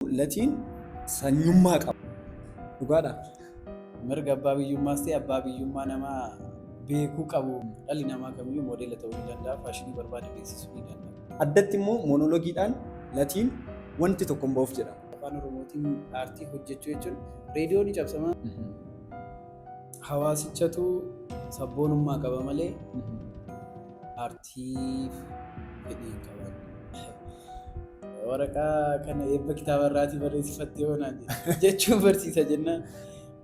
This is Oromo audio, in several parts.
Latiin sanyummaa qaba. Dhugaadha. Mirga abbaa biyyummaas ta'e abbaa biyyummaa namaa beekuu qabu. Dhalli namaa kamiyyuu moodeela ta'uu ni danda'a, faashinii barbaade beeksisuu ni danda'a. Addatti immoo monologiidhaan Latiin wanti tokko hin ba'uuf jedhama. Afaan Oromootiin aartii hojjechuu jechuun reediyoo ni cabsama. Hawaasichatu sabboonummaa qaba malee aartii. tiif fedhii hin qaban. Waraqaa kana eebba kitaaba irraatii barreessifattee hoonaan jechuun barsiisa jennaan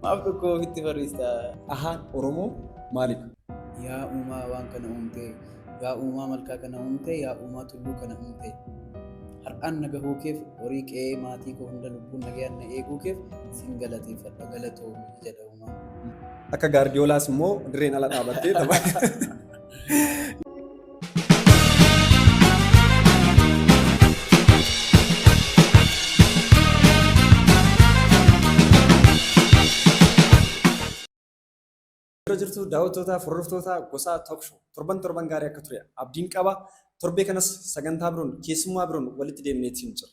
maaf dhukkoo ofitti barreessita. Ahaan Oromoo maalidha? Yaa uumaa waan kana uumtee, yaa uumaa malkaa kana uumtee, yaa uumaa tulluu kana uumtee. Har'aan na gahuu keef horii qe'ee maatii koo hunda lubbuun nagayaan na eeguu keef sin galateeffadha galatoomi jedha uumaa. Akka gaardiyoolaas immoo dirreen ala dhaabattee tapha. Yeroo jirtu daawwattootaa fi hordoftoota gosaa Talk Show torban torban gaarii akka ture abdiin qaba. Torbee kanas sagantaa biroon keessummaa biroon walitti deemnee itti jira.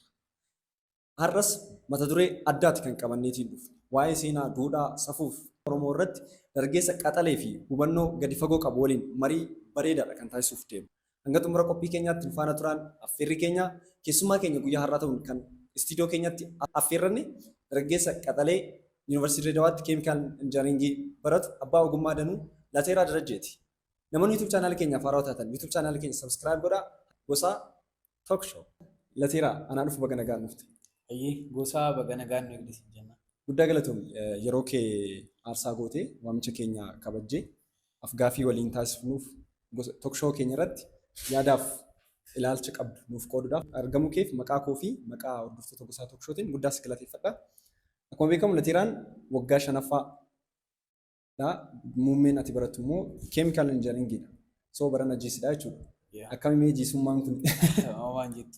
Har'as mata duree addaati kan qabanneetiin dhufne. Waa'ee seenaa, duudhaa, safuuf Oromoo irratti dargaggeessa qaxalee fi hubannoo gadi fagoo qabu waliin marii bareedaadha kan taasisuuf deemnu. Hanga xumura qophii keenyaatti nu faana turaan affeerrii keenya. Keessummaa keenya guyyaa har'aa ta'uun kan istiidiyoo keenyatti affeerranne dargaggeessa qaxalee Yuunivarsiitii Dirree Dawaatti Keemikaal Injinariingii baratu abbaa ogummaa danuu Lateeraa Darajjeeti. Namoonni YouTube chaanaala keenyaaf haarawaa taatan YouTube chaanaala keenya subscribe godhaa. Gosaa Talk show. Lateeraa, anaa dhufu baga nagaan dhufte. Hayyee Goosaa baga nagaan nu eegde siin jenna. Guddaa galatoomi yeroo kee aarsaa gootee waamicha keenya kabajjee af-gaaffii waliin taasifnuuf gosa talk show keenya irratti yaadaaf ilaalcha qabdu nuuf qooduudhaaf argamuu keef maqaa koo fi maqaa hordoftoota Gosaa Talk Show tiin guddaa si galateeffadha. Akkuma beekamu Lateeraan waggaa 5ffaa dha. Muummeen ati barattu immoo chemical engineering dha. So barana GC dha jechuudha. Yeah. Akkami mee jiisummaan kun Amma waan jettu.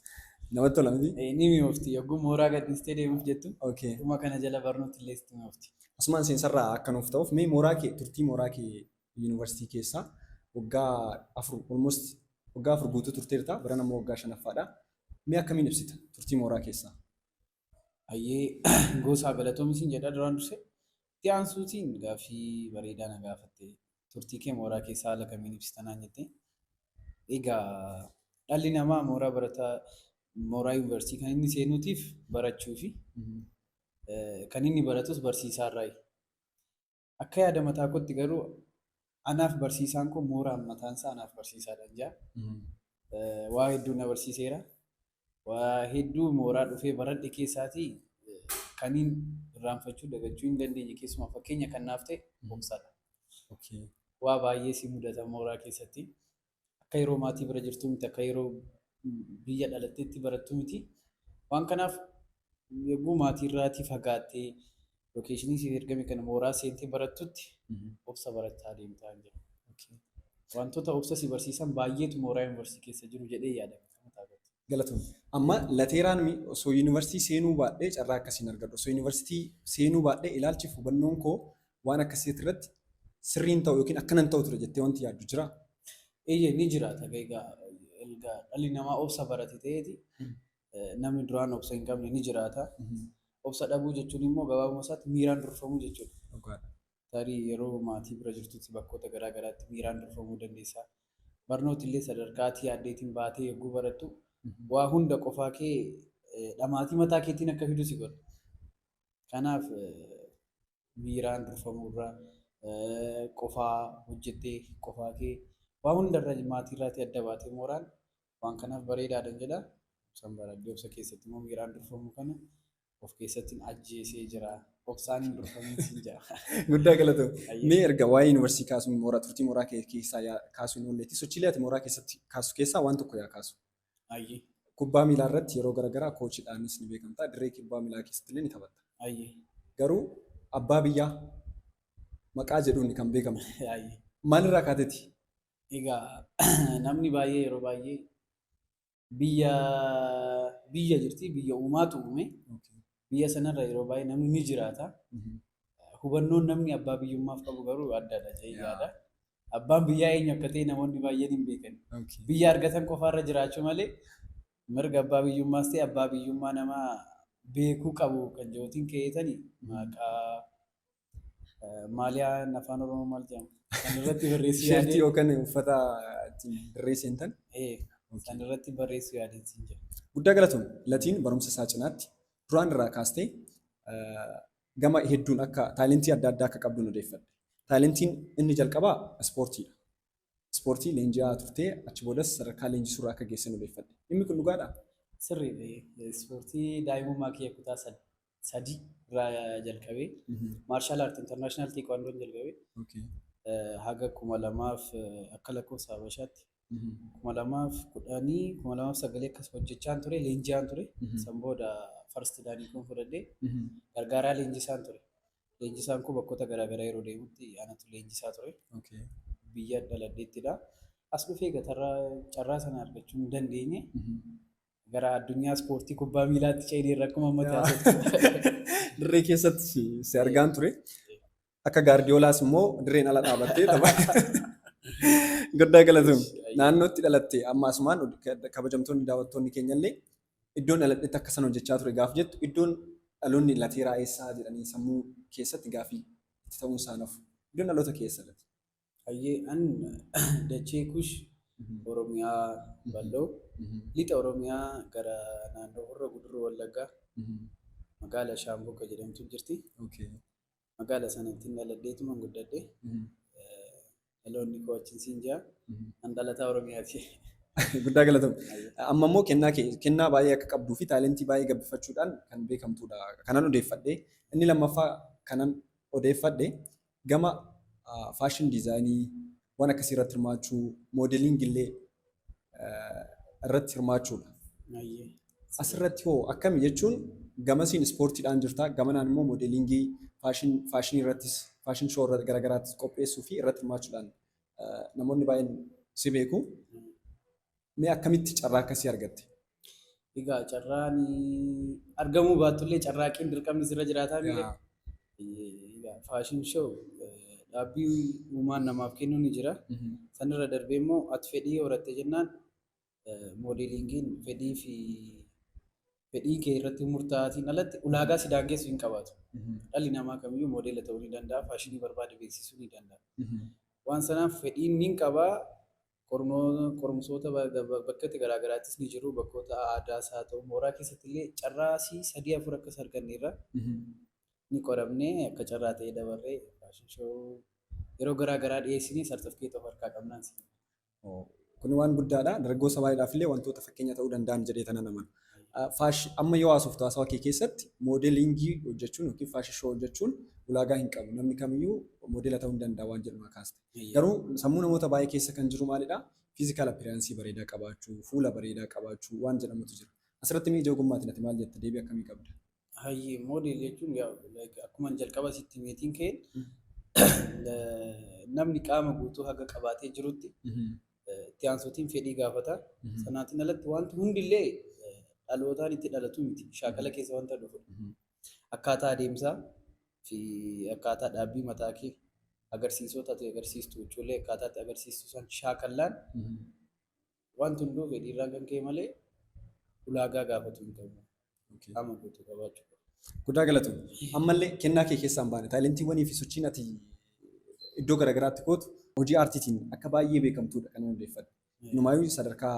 namatti tola miti? Eh, Ni mi'oofti. Yogguu mooraa gadhiistee deemuuf jettu. Okay. Dhuma kana jala barnooti illee sitti mi'oofti. Asumaan seensarraa akka nuuf ta'uuf mee mooraa kee turtii mooraa kee yuunivarsiitii keessaa waggaa afur almost waggaa afur guutuu turteerta barana immoo waggaa shanaffaadha. Mee akkamiin ibsita turtii mooraa keessaa? Hayyee Goosaa galatoomi siin jedha duraan dursee. Itti aansuutiin gaaffii bareedaa na gaafatte. Turtii kee mooraa keessa haala kamiin ibsita naan jette. Egaa dhalli namaa mooraa barataa mooraa yuunivarsiitii kan inni seenuutiif barachuu fi kan inni baratus barsiisaarraayi. Akka yaada mataa kootti garuu anaaf barsiisaan koo mooraan mataan isaa anaaf barsiisaadhaan jaa. Waa hedduu na barsiiseera. Waa hedduu mooraa dhufee baradhe keessaatii kaniin irraanfachuu dagachuu hin dandeenye keessumaa fakkeenya kan naaf ta'e obsadha. Waa baay'ee si mudata mooraa keessatti. Akka yeroo maatii bira jirtuu miti, akka yeroo biyya dhalatteetti barattu miti. Waan kanaaf yogguu maatiirraatii fagaattee lokeeshinii siif ergame kana mooraa seentee barattutti obsa barachaa deemta hin jedhu. Wantoota obsa si barsiisan baay'eetu mooraa yuunivarsiitii keessa jiru jedhee yaada. Akkamitti argattu? Galatoomi. Amma lateeraan mi osoo yuunivarsiitii seenuu baadhee carraa akkasii hin argadhu. Osoo yuunivarsiitii seenuu baadhee ilaalchiif hubannoon koo waan akkasii irratti sirrii hin ta'u yookiin akkana hin ta'u ture jettee wanti yaaddu jiraa? Eeyyee ni jiraata egaa erga dhalli namaa obsa barate ta'eeti namni duraan obsa hin qabne ni jiraata. Obsa dhabuu jechuun immoo gabaabuma isaatti miiraan durfamuu jechuudha. Dhugaadha. Tarii yeroo maatii bira jirtutti bakkoota garaa garaatti miiraan durfamuu dandeessa. Barnooti illee sadarkaa ati yaaddeetiin baatee yogguu barattu waa hunda qofaa kee dhamaatii mataa keetiin akka fidu si godha. Kanaaf miiraan durfamuu irra qofaa hojjettee qofaa kee waa hunda irra maatii irraatii adda baatee mooraan Waan kanaaf bareedaadhan jedha. Obsan baradhee obsa keessatti immoo miiraan durfamu kana of keessattiin ajjeesee jira. Obsaan hin durfamiin siin jedha. Guddaa galatoo. Ayyee. Mee erga waa'ee yuunivarsiitii kaasuun mooraa turtii mooraa kee keessaa yaa kaasuun oolleetti sochiilee ati mooraa keessatti kaasu keessaa waan tokko yaa kaasu. Ayyee. Kubbaa miilaa irratti yeroo garaagaraa koochidhaanis ni beekamta. Dirree kubbaa miilaa keessatti illee ni taphatta. Ayyee. Garuu abbaa biyyaa maqaa jedhuun kan beekamtu. Ayyee. Maalirraa kaateeti? Egaa namni baay'ee yeroo baay'ee biyya biyya jirti biyya uumaatu uume biyya sanarra yeroo baay'ee namni ni jiraata. Hubannoon namni abbaa biyyummaaf qabu garuu addadha jedhee yaada. Abbaan biyyaa eenyu akka ta'e namoonni baay'een hin beekan. Biyya argatan qofaarra jiraachuu malee mirga abbaa biyyummaas ta'e abbaa biyyummaa namaa beekuu qabu kan jedhuutiin kee'eetani maqaa Maaliyaan afaan Oromoo maal jedhama? Kan irratti barreessuu Sheertii yaadee. yookaan uffata ittiin barreessan tan. Ee, Kan irratti barreessuu yaadee siin jedha. Guddaa galatoom latiin barumsa isaa cinaatti duraan irraa kaastee eh, gama hedduun akka taalentii adda addaa akka qabdu odeeffadhe. Taalentiin inni jalqabaa ispoortiidha. Ispoortii leenji'aa turtee achi boodas sadarkaa leenjisuurra akka geessan odeeffadhe. Dhimmi kun dhugaadhaa? Sirriidha. Ispoortii daa'imummaa kiyya kutaa sadii. sadii irraa jalqabee maarshaal aarti intarnaashinaal teekwaandoon jalqabee Okay. eh, haga kuma lamaaf eh, akka lakkoofsa Habashaatti kuma lamaaf kudhanii kuma lamaaf sagalee akkas hojjechaan ture leenji'aan ture Mhm. san booda farsti daanii kun fudhadhee gargaaraa leenjisaan ture leenjisaan kun bakkoota garaagaraa yeroo deemutti anatu leenjisaa ture Okay. biyya dhaladheettidha as dhufee gatarraa carraa sana argachuu hin dandeenye Gara addunyaa ispoortii kubbaa miilaatti ceeniirra akkuma ammatti Yaa. haasoftu. Dirree keessatti si- si argaan ture. Akka gaardiyoolaas immoo dirreen ala dhaabattee tapha. Guddaa galatoom. Naannootti dhalatte amma asumaan od- kabajamtoonni daawwattoonni keenyallee iddoon dhaladhetti akka san hojjechaa ture gaaf jettu iddoon dhaloonni lateeraa eessaa jedhanii sammuu keessatti gaafii itti ta'uun isaanaaf iddoon dhaloota keessa lati. Hayyee an dachee kush Oromiyaa bal'oo lixa Oromiyaa gara naannoo Horroo Guduruu Wallaggaa magaala Shaambuu akka jedhamtu jirti. Magaala sanattin dhaladheetuman guddadhe. Dhaloonni koo achin siin jaa. An dhalataa Oromiyaati. Guddaa galatoom. Amma immoo kennaa kee kennaa baay'ee akka qabduu fi taalentii baay'ee gabbifachuudhaan kan beekamtudha kanan odeeffadhe. Inni lammaffaa kanan odeeffadhe Gama faashin diizaayinii waan akkasii irratti hirmaachuu, moodeliingi illee irratti hirmaachuudha. Ayyee. Asirratti hoo akkami jechuun gamasiin ispoortiidhaan jirta, gamanaan immoo moodeliingii faashin faashinii irrattis faashin shoo irra garagaraattis qopheessuu fi irratti hirmaachuudhaan namoonni baay'een si beeku. Mee akkamitti carraa akkasii argatte? Egaa carraan argamuu baattullee carraaqqiin dirqamni sirra jiraataa miti. Egaa faashin show dhaabbii uumaan namaaf kennu ni jira. Sanirra darbee immoo ati fedhii horatte jennaan moodeeliingiin fedhii fi fedhii kee irratti murtaa'aatiin alatti ulaagaa si daangessu hin qabaatu. Dhalli namaa kamiyyuu moodeela ta'uu ni danda'a, faashinii barbaade beeksisuu ni danda'a. Waan sanaaf fedhiin ni qaba, Qorumsoota bakkatti garaa garaattis ni jiru. Bakkoota aadaas haa ta'u mooraa keessatti illee carraa sii sadii afur akkas arganne irra ni qoramne akka carraa ta'ee dabarree fashion show yeroo garaa garaa dhiyeessine sartifikeet of harkaa qabnaan siin. Kun waan guddaadha. Dargaggoo sabaadhaaf illee wantoota fakkeenya ta'uu danda'an jedhee tana nama. Amma yoo haasoftu haasawa kee keessatti moodeeliingii hojjechuun yookiin faashin shoo hojjechuun ulaagaa hin qabu. Namni kamiyyuu moodeela ta'uu ni danda'a waan jedhu na kaaste. Garuu sammuu namoota baay'ee keessa kan jiru maalidha? Physical appearance bareedaa qabaachuu, fuula bareedaa qabaachuu waan jedhamutu jira. Asirratti mee ija ogummaatiin ati maal jetta? Deebii akkamii qabda? Hayyee model jechuun yaa like akkuman jalqaba sitti meetiin ka'een namni qaama guutuu haga qabaatee jirutti itti aansuutiin fedhii gaafata. Sanaatiin alatti wanti hundillee dhalootaan itti dhalatu miti. Shaakala keessa wanta dhufu. Akkaataa adeemsaa fi akkaataa dhaabbii mataa kee agarsiisota ati agarsiistu jechuullee akkaataa itti agarsiistu san shaakallaan wanti hunduu fedhiirraan kan ka'e malee ulaagaa gaafatu hin qabu. Qaama guutuu qabaachuu qaba. Guddaa galatoom. Ammallee kennaa kee keessaan baane taayilantiiwwanii fi sochiin ati iddoo garaagaraatti gootu hojii aartiitiin akka baay'ee beekamtuudha kan hundeeffadhe. Inumaayuu sadarkaa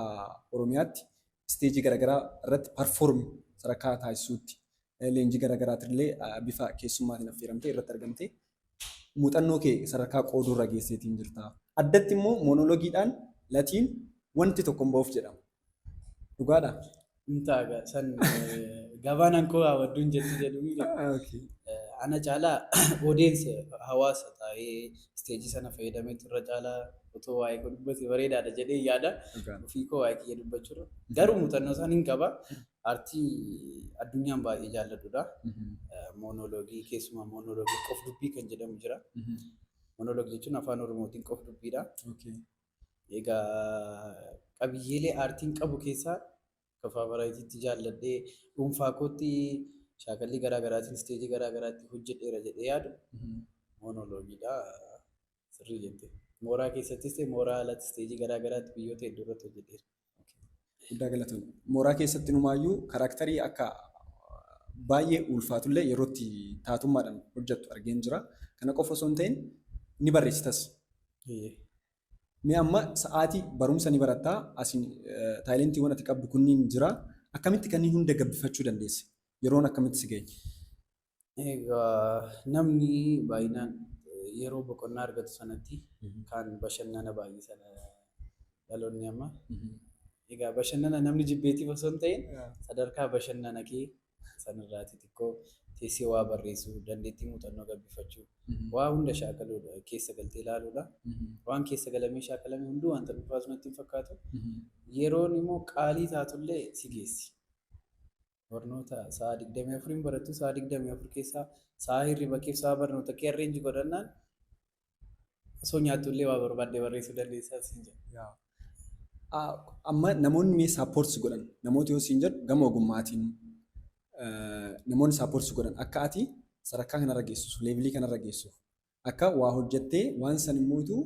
Oromiyaatti isteejii garagaraa irratti perform sadarkaa taasisuutti leenjii garagaraatirillee bifa keessummaatiin affeeramtee irratti argamtee muuxannoo kee sadarkaa qooduurra geesseetiin jirta. Addatti immoo monologiidhaan latiin wanti tokko hin ba'uuf jedhama. Dhugaadhaa? hin taaga san gabaanaan koo hawwadduun jettu jedhu ana caalaa odeensa hawaasa taa'ee isteejii sana fayyadamee turre caalaa otoo waa'ee koo dubbate bareedaadha jedhee yaada ofii koo waa'ee kiyya dubbachuudha garuu muuxannoo isaan hin qaba artii addunyaan baay'ee jaalladhudha moonooloogii keessumaa moonooloogii qof dubbii kan jedhamu jira moonooloogii jechuun afaan oromootiin qof dubbiidha Egaa qabiyyeelee aartiin qabu keessaa akka faavaraayitiitti jaalladhee dhuunfaa kootti shaakallii garaa garaatiin isteejii garaa garaatti hojjedheera jedhee yaadu moonooloogiidha. Sirrii jette. Mooraa keessattis ta'e mooraa alatti isteejii garaa garaatti biyyoota hedduu irratti hojjedheera. Guddaa galatoom. Mooraa keessatti numaayyuu karaaktarii akka baay'ee ulfaatullee yeroo itti taatummaadhaan hojjettu argeen jira. Kana qofa osoo hin ta'in ni barreessitas. Mee amma sa'aatii barumsa ni barattaa asiin taayilentiiwwan ati qabdu kunniin jira. Akkamitti kanneen hunda gabbifachuu dandeesse? Yeroon akkamitti si ga'e? Egaa namni baay'inaan yeroo boqonnaa argatu sanatti kan bashannana baay'isan dhaloonni amma. Egaa bashannana namni jibbeetiif osoo hin ta'in sadarkaa bashannana kee sanirraati xiqqoo teessee waa barreessuu, dandeettii muuxannoo gabbifachuu, waa hunda shaakaluudha keessa galtee ilaaluudha. Waan keessa galamee shaakalame hunduu wanta dhufaatu natti hin fakkaatu. Yeroon immoo qaalii taatullee si geessi. barnoota sa'a 24 hin barattu sa'a 24 keessaa sa'a hirriba keef sa'a barnoota kee arreenji godhannaan osoo nyaattu illee waa barbaadde barreessuu dandeessaa siin jedha. Yaa. Ah, Amma namoonni mee saappoortis godhan namoota yoo siin jedhu gama ogummaatiin eh, namoonni saappoortis godhan akka ati sadarkaa kanarra geessuuf leevilii kanarra geessuuf akka waa hojjattee waan san immootu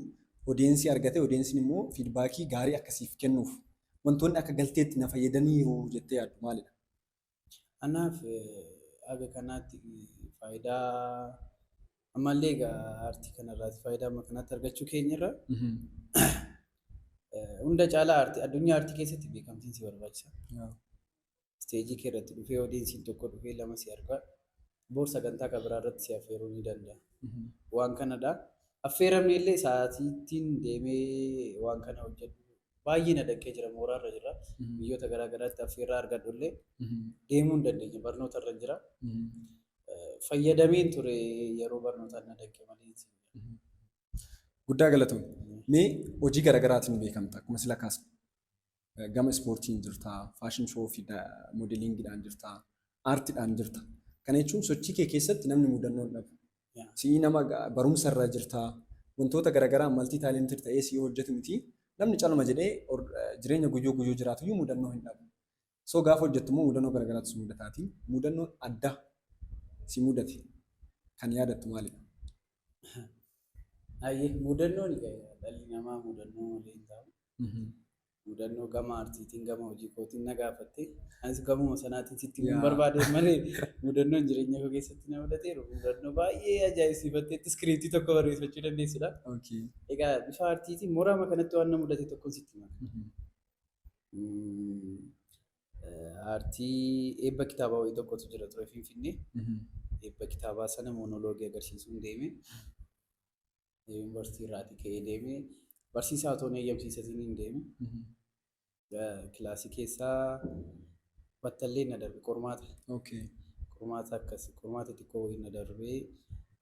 odeensii argatee odeensiin immoo fiidbaakii gaarii akka siif kennuuf wantoonni akka galteetti na fayyadaniiru jettee yaaddu maalidha? Anaaf haga kanaatti faayidaa ammallee egaa aartii kanarraati faayidaa amma kanaatti argachuu keenyarra hunda caalaa aartii addunyaa aartii keessatti beekamtiin si barbaachisa. isteejii kee irratti dhufee odiinsiin tokko dhufee lama si argaa boor sagantaa kan biraa irratti si affeeruu ni danda'a. Waan kanadha. Affeeramne illee sa'aatiittiin deemee waan kana hojjedhu baay'ee na danqee jira mooraarra jira. Biyyoota garaa garaatti affeerraa argadhu illee deemuu hin dandeenye barnoota irra jira. Fayyadameen ture yeroo barnootaan na danqe malee. Guddaa galatoom. Mee hojii garaagaraatiin beekamta akkuma sila kaasne. gama ispoortiin jirta, faashin shoo fi moodeliingiidhaan jirta, aartiidhaan jirta. Kana jechuun sochii kee keessatti namni mudannoon dhabu. Si'ii nama barumsa irra jirta, wantoota garaagaraa maltii taalentii ta'ee si'ii hojjetu miti. Namni calma jedhee jireenya guyyuu guyyuu jiraatu iyyuu mudannoo hin dhabu. So gaafa hojjettu immoo mudannoo garaagaraatu si mudataati. Mudannoon adda si mudate kan yaadattu maalidha? Ayyee mudannoon dhalli namaa mudannoo malee hin taa'u. mudannoo gama aartiitiin gama hojii kootiin na gaafatte. Anis gamuma sanaatiin sitti hin barbaade malee mudannoon jireenya koo keessatti na mudateeru. Mudannoo baay'ee ajaa'ibsiifatteetti iskiriiptii tokko barreeffachuu dandeessudha. Egaa bifa aartiitiin moraama kanatti waan na mudate tokkoon sitti hima. Aartii eebba kitaabaa wayii tokkotu jira ture Finfinnee. Eebba kitaabaa sana moonoloogii agarsiisuun deeme. Yuunivarsiitii irraatii ka'ee deemee barsiisaa otoo hin eeyyamsiisatiin hin deeme. Kilaasii keessaa battallee na darbe qormaata. Okay. Qormaata akkas qormaata xiqqoo wayii na darbee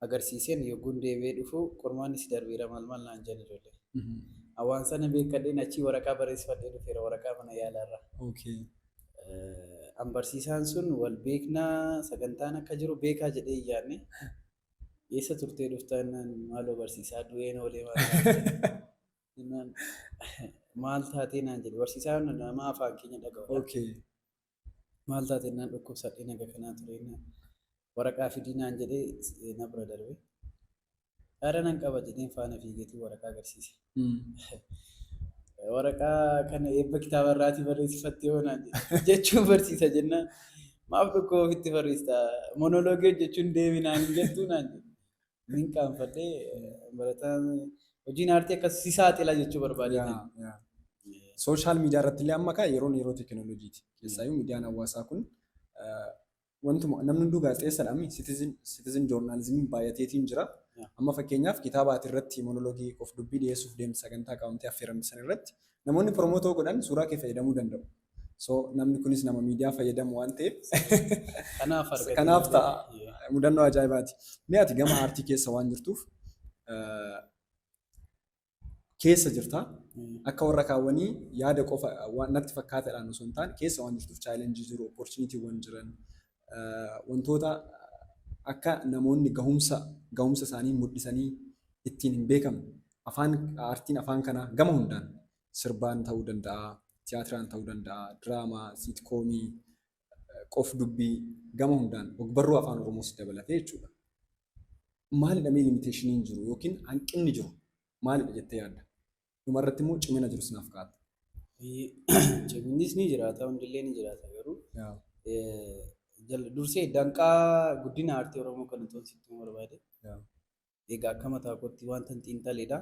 agarsiiseen yogguun deebi'ee dhufu qormaanni si darbeera maal maal naan jedhan ijoollee. Waan sana beekadheen achii waraqaa barreessifadhee dhufeera waraqaa mana yaalaarraa. Okay. An barsiisaan sun wal beeknaa sagantaan akka jiru beekaa jedhee hin yaadne. eessa turtee dhuftaa jennaan maaloo barsiisaa du'een oolee maal taatee jennaan maal taatee naan jedhe barsiisaa yoona nama afaan keenya dhaga'u Okay. maal taatee jennaan dhukkubsadhee naga kanaa ture jennaan waraqaa fidii naan jedhee eh, na bira darbe qaara nan qaba jedheen faana fiigeetii waraqaa agarsiise Waraqaa kana eebba kitaaba irraatii barreessifattee yoo naan jedhe jechuun barsiisa jennaan maaf tokko ofitti barreessita monoloogii hojjechuun deemi naan hin jettuu naan jedhe. Nin qaanfadhee barataan hojiin aartii akkas si saaxila jechuu barbaadee yaa, ture. yaa. Sooshaal miidiyaa irratti illee amma kaa yeroon yeroo teekinooloojiiti. Keessaayyuu miidiyaan hawaasaa kun eh, wantuma namni hunduu gaazexeessadha mi citizen citizen journalism baay'ateetiin jira. Yeah. Amma fakkeenyaaf kitaaba ati irratti monologii of dubbii dhiyeessuuf deemte sagantaa qabamtee affeeramte san irratti namoonni promootoo godhan suuraa kee fayyadamuu danda'u. So namni kunis nama miidiyaa fayyadamu waan ta'eef Kanaaf argatee kanaaf malee. ta'a. Yeah. mudannoo ajaa'ibaati. Mee ati gama aartii keessa waan jirtuuf eh, keessa jirta. Akka warra kaawwanii yaada qofa waan natti fakkaatadhaan osoo hin taane keessa waan jirtuuf chaalenjii jiru, opportunitiiwwan jiran, wantoota akka namoonni gahumsa gahumsa isaanii mul'isanii ittiin hin beekamne afaan aartiin afaan kanaa gama hundaan sirbaan ta'uu danda'a, tiyaatiraan ta'uu danda'a, diraamaa, siitkoomii, qof-dubbii gama hundaan ogbarruu Afaan Oromoos dabalatee jechuudha. Maalidha mee limiteeshiniin jiru yookiin hanqinni jiru maalidha jettee yaadda? Dhumarratti immoo cimina jirus naaf kaa'atta. Ciminnis ni jiraata, hundillee ni jiraata garuu Yaa. eh, jal- dursee danqaa guddina aartii Oromoo kan utuun sitti himuu barbaade Yaa. Egaa akka mataa kootti wantan xiinxaledha.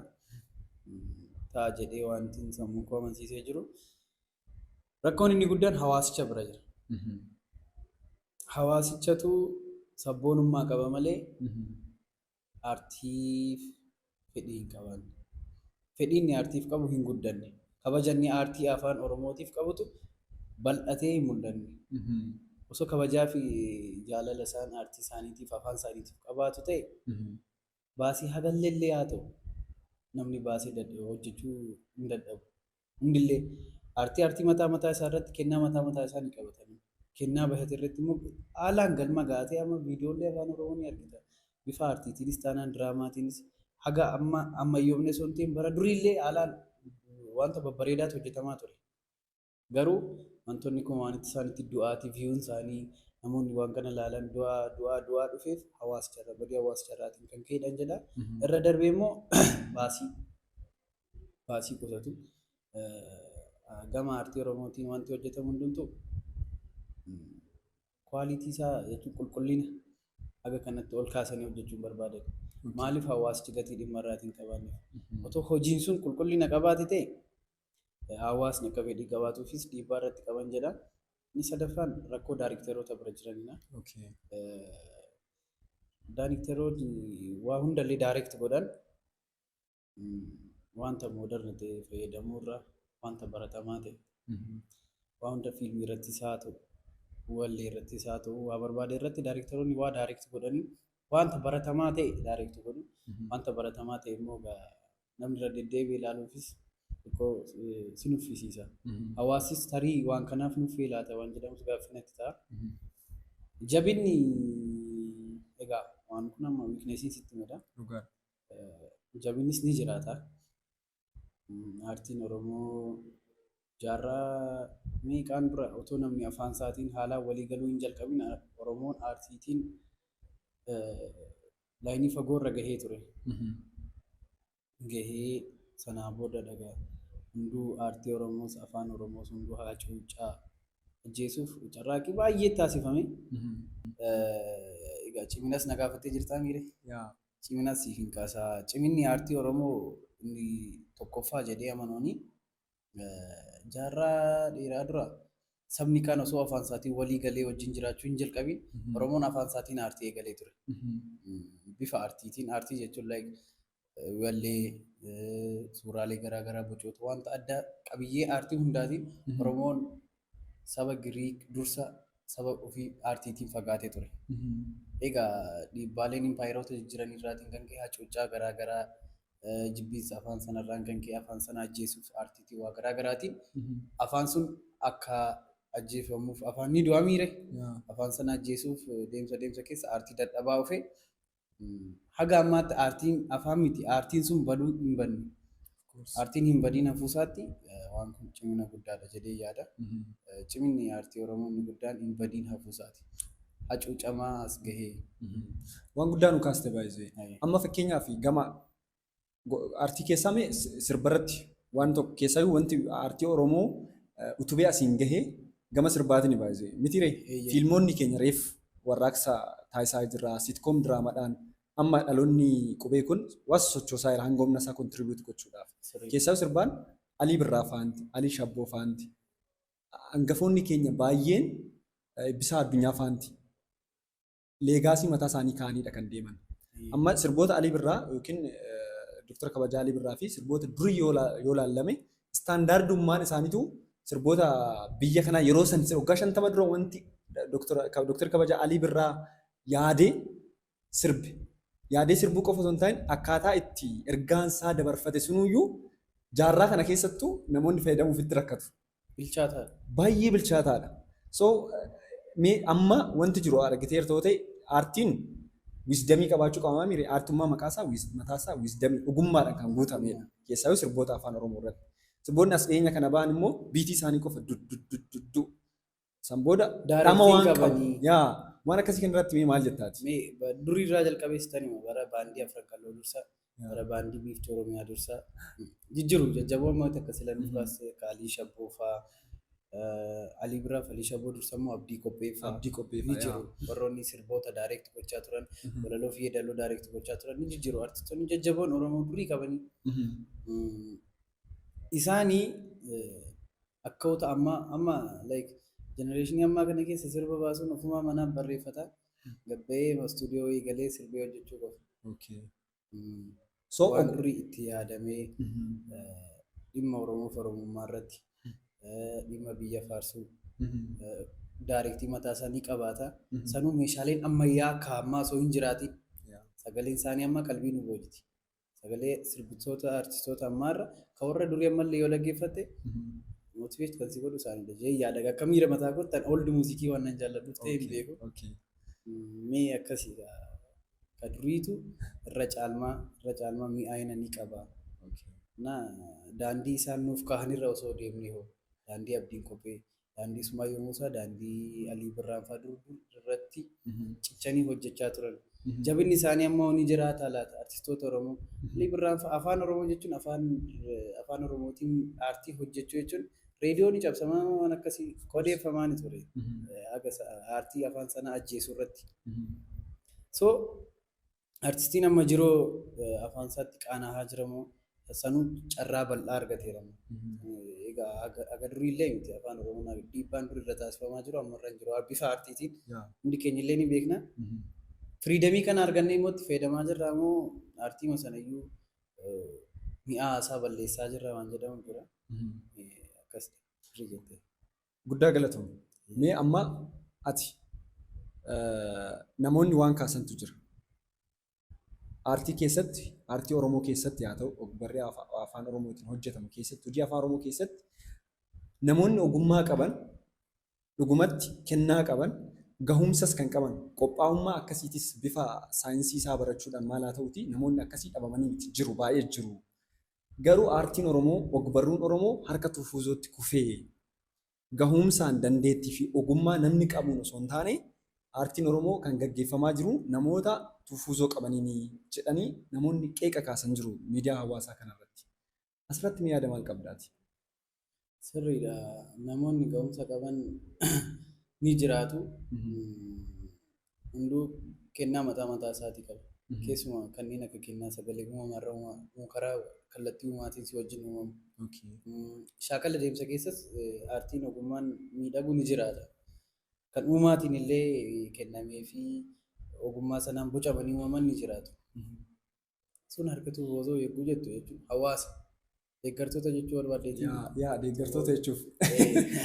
Ta'a jedhee wanti sammuu koo amansiisee jiru. Rakkoon inni guddaan hawaasicha bira jira. Hawaasichatu sabboonummaa qaba malee aartiif fedhii hin qaban. fedhii inni aartiif qabu hin guddanne. Kabaja inni aartii Afaan Oromootiif qabutu bal'atee hin mul'anne. Osoo kabajaafi jaalala isaan aartii isaaniitiif, afaan isaaniitiif qabaatu ta'e, baasii hagalleellee haa ta'u namni baasee dadhabe hojjechuu hin dadhabu. Hundillee aartii aartii mataa mataa isaa irratti kennaa mataa mataa isaa ni qabata. Kennaa bahate irratti immoo haalaan galma ga'a ta'e amma viidiyoollee Afaan Oromoo ni argita. bifa aartiitiinis taanaan diraamaatiinis haga amma ammayyoomne osoo hin ta'in bara duriillee haalaan wanta babbareedaatu hojjetamaa ture. Garuu wantoonni kun waan itti isaanitti du'aati viyuun isaanii namoonni waan kana ilaalan du'aa du'aa du'aa dhufeef hawaasicharra badii hawaasicharraatiin kan ka'edhaan jedha. Irra darbee immoo baasii baasii qusatu. Gama aartii Oromootiin wanti hojjetamu hundumtuu Quality isaa jechuun qulqullina haga kanatti ol kaasanii hojjechuu hin barbaadan. Maaliif hawaasichi gatii dhimma irraatii hin qabaanneef? Otoo hojiin sun qulqullina qabaate ta'e hawaasni akka fedhii qabaatuufis dhiibbaa irratti qaban jedha. Inni sadaffaan rakkoo daarikteroota bira jiranidha. Okay. Daarikteroonni waa hundallee daarekti godhan wanta moodarna ta'e fayyadamuu irra wanta baratamaa ta'e waa hunda fiilmii irratti isaa ta'u wallee irratti isaa ta'u waa barbaade irratti daayirektaroonni waa daayirekti godhanii wanta baratamaa ta'e daayirekti godhu wanta baratamaa ta'e immoo namni irra deddeebi'ee ilaaluufis xiqqoo si nuffisiisa. Hawaasis tarii waan kanaaf nuffee laata waan jedhamus gaaffinatti ta'a. Jabinni egaa waan kun amma wiikneesiin sitti mada. Jabinnis ni jiraata. Aartiin Oromoo jaarraa meeqaan dura otoo namni afaan isaatiin haalaan walii galuu hin jalqabin Oromoon aartiitiin laayinii fagoo irra gahee ture. Gahee sanaa booda dhagaa hunduu aartii Oromoos afaan Oromoos hunduu hacuuccaa ajjeesuuf carraaqqii baay'ee taasifame. Egaa ciminas na gaafattee jirtaa miire. Cimina siif hin kaasa. Ciminni aartii Oromoo inni tokkoffaa jedhee amanuuni jaarraa dheeraa dura sabni kaan osoo afaan isaatiin walii galee wajjin jiraachuu hin jalqabin Oromoon afaan isaatiin aartii eegalee ture. Bifa aartiitiin aartii jechuun like wallee suuraalee garaa garaa bocoota wanta addaa qabiyyee aartii hundaatiin Oromoon saba Giriik dursa saba ofii aartiitiin fagaatee ture. Egaa dhiibbaaleen impaayeroota jijjiran irraatiin kan ka'e hacuuccaa garaa garaa, jibbiinsa afaan sanarraan kan ka'e afaan sana ajjeesuuf aartiitiin waa garaa garaatiin afaan sun akka ajjeefamuuf afaan ni du'a miire? Afaan sana ajjeesuuf deemsa deemsa keessa aartii dadhabaa dhufe. Haga ammaatti aartiin afaan miti aartiin sun baduu hin badne. Aartiin hin badiin hafuusaatti waan kun cimina guddaadha jedhee yaada. Ciminni aartii Oromoo inni guddaan hin badiin hafuusaati. Hacuucamaa as gahee. Waan guddaa nu kaaste baay'isee. Amma fakkeenyaaf gama Artii keessaa mee sirbarratti waan tokko keessaayyuu wanti artii Oromoo utubee asiin gahee gama sirbaatiin baay'isee mitiiree fiilmoonni keenya reef warraaqsa taasisaa jirra sitkoom diraamaadhaan amma dhaloonni qubee kun waan sochoosaa jira hanga humna isaa kontiribiyuuti gochuudhaaf keessaa sirbaan Alii Birraa faanti Alii Shabboo faanti hangafoonni keenya baay'een Eebbisaa Addunyaa faanti leegaasii mataa isaanii kaa'aniidha kan deeman. Amma sirboota Alii Birraa yookiin Dooktar Kabajaa Alii Birraa fi sirboota durii yoo la- yoo laallame istaandaardummaan isaaniitu sirboota biyya kanaa yeroo san waggaa shantama dura wanti Dooktar Kabajaa Alii Birraa yaadee sirbe. Yaadee sirbuu qofa osoo hin taane akkaataa itti ergaan isaa dabarfate sunuyyuu jaarraa kana keessattuu namoonni fayyadamuuf itti rakkatu. Bilchaataadha. baay'ee bilchaataadha. So mee amma wanti jiru argiteerta yoo ta'e aartiin wisdamii qabaachuu qaba mire aartummaa maqaasaa wis- mataasaa wisdamii ogummaadhaan kan guutamedha. Keessaayyuu sirboota afaan Oromoo irratti. Sirboonni as dhiyeenya kana ba'an immoo biitii isaanii qofa duddudduddu San booda dhama Daarettiin waan qabu. qabanii. Yaa waan akkasii kana irratti mee maal jettaati? Mee ba- durii irraa jalqabee sitanima bara baandii afran qalloo dursa Yaa. bara baandii biiftuu oromiyaa dursa jijjiru jajjaboo ammaa takka sila nuuf baase akka alii shabboo faa eh, alii biraa fi alii shabboo dursa immoo abdii qophee faa Abdii qophee ni faa, jiru warroonni sirboota daayireekti gochaa turan Mhm. walaloo fi yeedaloo daayireekti gochaa turan ni jijjiru artistoonni jajjaboon oromoo durii qabanii Mhm. Mm, isaanii eh, akkawota ammaa amma like generation ammaa kana keessa sirba baasuun ofumaa manaan barreeffata gabbayee stuudiyoo wayii galee sirbee hojjechuu qofa. Okay. Mm. So Waan og- durii itti yaadamee Mhm. eh, dhimma Oromoo fi Oromummaa irratti eh, dhimma biyya faarsuu Mhm. eh, daarektii mataa isaanii qabaata. Mhm. Sanuu meeshaaleen ammayyaa akka ammaa osoo hin jiraatiin Yeah. sagaleen isaanii amma qalbii nu boojiti. Sagalee sirbitoota artistoota ammaarra kan warra durii ammallee yoo dhaggeeffatte motivate kan si godhu isaanidha jedhee yaada. Akka miira mataa kootti ani old muuziikii waan nan jaalladhuuf ta'e hin beeku. Okay. Mee akkasiidha. Ka duriitu irra caalmaa irra caalmaa mi'aayina ni qaba. Okay. Na daandii isaan nuuf kaahanirra osoo deemnee hoo daandii abdiin kophee daandii Sumaayoo Muusaa, daandii Alii Birraan faa dur dur irratti cichanii hojjechaa turan. Jabinni isaanii ammoo ni jiraataa laata artistoota Oromoo? Alii Birraan faa afaan Oromoo jechuun afaan afaan Oromootiin aartii hojjechuu jechuun reediyoo ni cabsamaa waan akkasii odeeffamaa ni ture. Haga aartii afaan sanaa ajjeesuu irratti. So Artistiin amma jiru afaan isaatti qaana'aa jira moo sanuu carraa bal'aa argateera moo? Egaa aga- aga durii illee miti afaan oromoo naaf dhiibbaan dur irra taasifamaa jiru amma irra hin jiru bifa aartiitiin Yaa. hundi keenya illee ni beekna. Mhm. Firiidamii kana argannee immoo itti fayyadamaa jirra moo aartiima sana iyyuu eh, mi'aa isaa balleessaa jirra waan jedhamu jira. Mhm. Eh, Akkas sirrii jettee. Guddaa galatoomi. Mee amma ati namoonni waan kaasantu jira. Aartii keessatti, aartii Oromoo keessatti haa ta'u, ogbarree afa- afaan Oromootiin hojjetamu keessatti, hojii afaan Oromoo keessatti namoonni ogummaa qaban dhugumatti kennaa qaban gahumsas kan qaban qophaa'ummaa akkasiitis bifa saayinsii isaa barachuudhaan maal haa ta'uuti namoonni akkasii dhabamanii miti jiru baay'ee jiru. Garuu aartiin Oromoo, ogbarruun Oromoo harka Tufuuzootti kufee gahuumsaan, dandeettii fi ogummaa namni qabuun osoo hin taane aartiin Oromoo kan gaggeeffamaa jiru namoota Tufuuzoo qabaniini jedhanii namoonni qeeqa kaasan jiru miidiyaa hawaasaa kanarratti. Asirratti mee yaada maal qabda ati? Sirriidha. Namoonni ga'umsa qaban ni jiraatu. Hunduu kennaa mataa mataa isaatii qaba. Keessumaa kanneen akka kennaa sagalee uumama irra uumamu karaa kallattii uumaatiin si wajjin uumamu. Shaakala deemsa keessas aartiin ogummaan miidhagu ni jiraata. Kan uumaatiin illee kennamee fi ogummaa sanaan bocamanii uumaman ni jiraatu. sun harkituu boosoo yerguu jettu jechuudha. Hawaasa. Deeggartoota jechuu barbaaddeetii. Yaa yaa deeggartoota jechuuf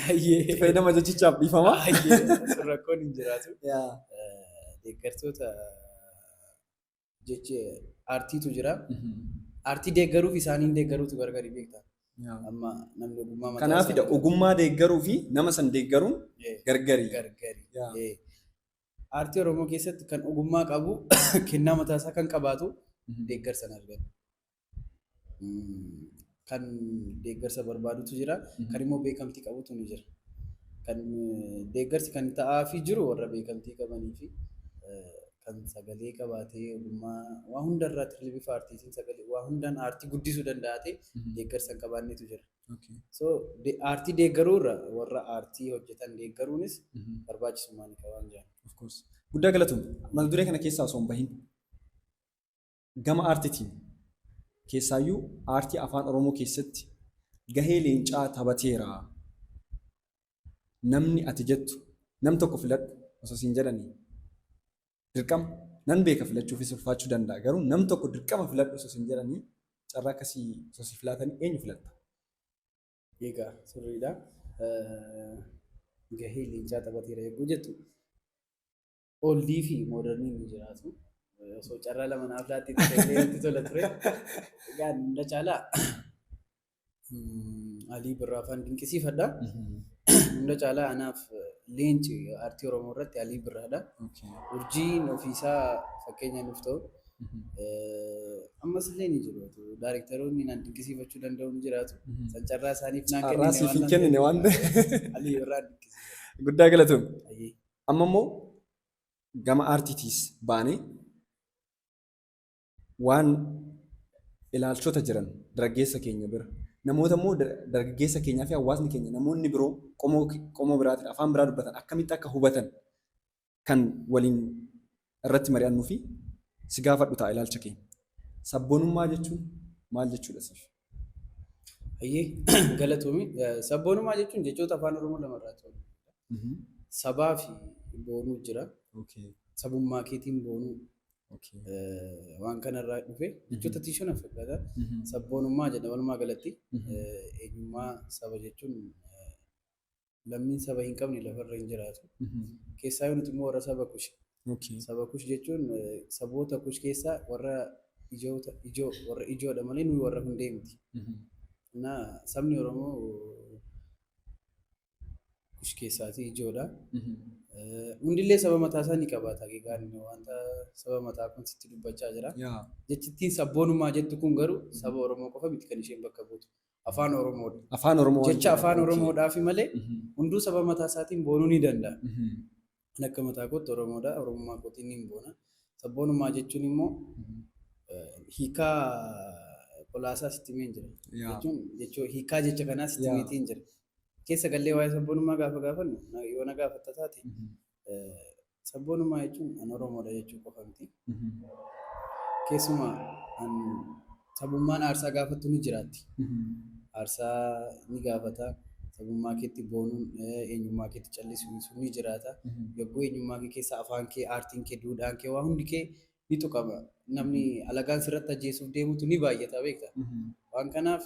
Hayyee. itti fayyadama jechichaaf dhiifama. Hayyee. Sun rakkoon hin jiraatu. Yaa. Eh, Deeggartoota jechi aartiitu jira. Mhm. Aartii deeggaruuf isaaniin deeggaruutu gargari beekta. Yaa. Amma namni ogummaa mataa Kanaafidha isaa- ogummaa deeggaruu fi nama san deeggaruun Eh, gargari. gargari. Yaa. Eh, Aartii Oromoo keessatti kan ogummaa qabu kennaa mataa isaa kan qabaatu deeggarsa hin argatu. Mm, Kan deeggarsa barbaadutu jira. Kan immoo beekamtii qabutu ni jira. Kan eh, deeggarsi kan ta'aafii jiru warra beekamtii qabanii fi eh, kan sagalee qabaatee ogummaa waa hundarraa tirlibifa aartiitiin sagalee waa hundaan aartii guddisuu danda'atee deeggarsa hin qabaannetu jira. Okay. So de- aartii deeggaruu irra warra aartii hojjetan deeggaruunis Mhm. barbaachisummaa ni qaba waan jedhan. Of course. Guddaa galatoom. Mata duree kana keessaa osoo hin bahin gama aartitiin keessaayyuu aartii afaan Oromoo keessatti gahee leencaa taphateera. Namni ati jettu nam tokko filadhu osoo siin jedhani Dirqama. Nan beeka filachuufii si ulfaachuu danda'a garuu nam tokko dirqama filadhu osoo sin jedhanii carraa akkasii osoo siif laatanii eenyu filatta? Egaa sirriidha. Gahee leencaa taphateera eeguu jettu. Oldii fi moodarniin ni jiraatu. Osoo carraa lama naaf laatteetti ta'ee natti tola ture. Egaa hunda caalaa Mm, Alii Birraa faan dinqisiifadha. Hunda caalaa anaaf leenci aartii Oromoo irratti Alii Birraadha. Okay. Urjiin ofiisaa fakkeenya nuuf ta'u. Mhm. Eh, Ammas illee ni jiru. Daarektaroonni naan dinqisiifachuu danda'u ni jiraatu. Mhm. San carraa isaaniif naan Carraa siif hin kennine waan ta'eef. Alii Birraa dinqisiifadha. Guddaa galatoom. Ayyee. Amma immoo gama aartiitiis baanee Waan ilaalchota jiran daraggeessa keenya bira, namoota immoo dargaggeessa keenyaa fi hawaasni keenya namoonni biroo qomoo qomoo biraatiin afaan biraa dubbatan akkamitti akka hubatan kan waliin irratti mari'annuu fi si gaafadhu ta'a ilaalcha keenya. Sabboonummaa jechuun maal jechuudha siif? Hayyee galatoomi. Sabboonummaa jechuun jechoota afaan Oromoo lama irraa ta'u. Sabaa fi boonuu jira. Okay. Sabummaa keetiin boonuu. Waan kanarraa dhufe jechoota tiishan affeerraa sabboonummaa jedha walumaa galatti eenyummaa saba jechuun lammiin saba hin qabne lafarra hin jiraatu. Keessaa yoo nuti immoo warra saba kushi. Saba kush jechuun saboota kush keessaa warra ijoota ijoo warra ijoodha malee nuyi warra hundee miti. Naa sabni Oromoo kush keessaatii ijoodha. Hundillee saba mataa isaa ni qabaata. Egaan wanta saba mataa kun sitti dubbachaa jira. Jechittiin sabboonummaa jettu kun garuu saba Oromoo qofa miti kan isheen bakka buutu. Afaan Oromoodha. Afaan Oromoo. Jecha afaan Oromoodhaafi malee hunduu saba mataa isaatiin boonuu ni danda'a. Ani akka mataa kootti Oromoodha. Oromummaa kootiin niin boona. Sabboonummaa jechuun immoo hiikaa qolaasaa sitti himeen jira. Yaa. Jechuun jechoo hiikaa jecha kanaa sitti Yaa. himeetiin jira. Keessa gallee waa'ee sabboonummaa gaafa gaafannu na- yoo na gaafatta taate eh, sabboonummaa jechuun an Oromoodha jechuu qofa miti. Mhm. Keessumaa an sabummaan aarsaa gaafattu ni jiraatti. Mhm. Aarsaa ni gaafata. Sabummaa keetti boonuun eh, eenyummaa keetti callisuun sun ni jiraata. Mhm. Yogguu eenyummaa kee keessa afaan kee, aartiin kee, duudhaan kee waa hundi kee ni tuqama. Namni alagaan sirratti ajjeesuuf deemutu ni baay'ata beekta. Mhm. Waan kanaaf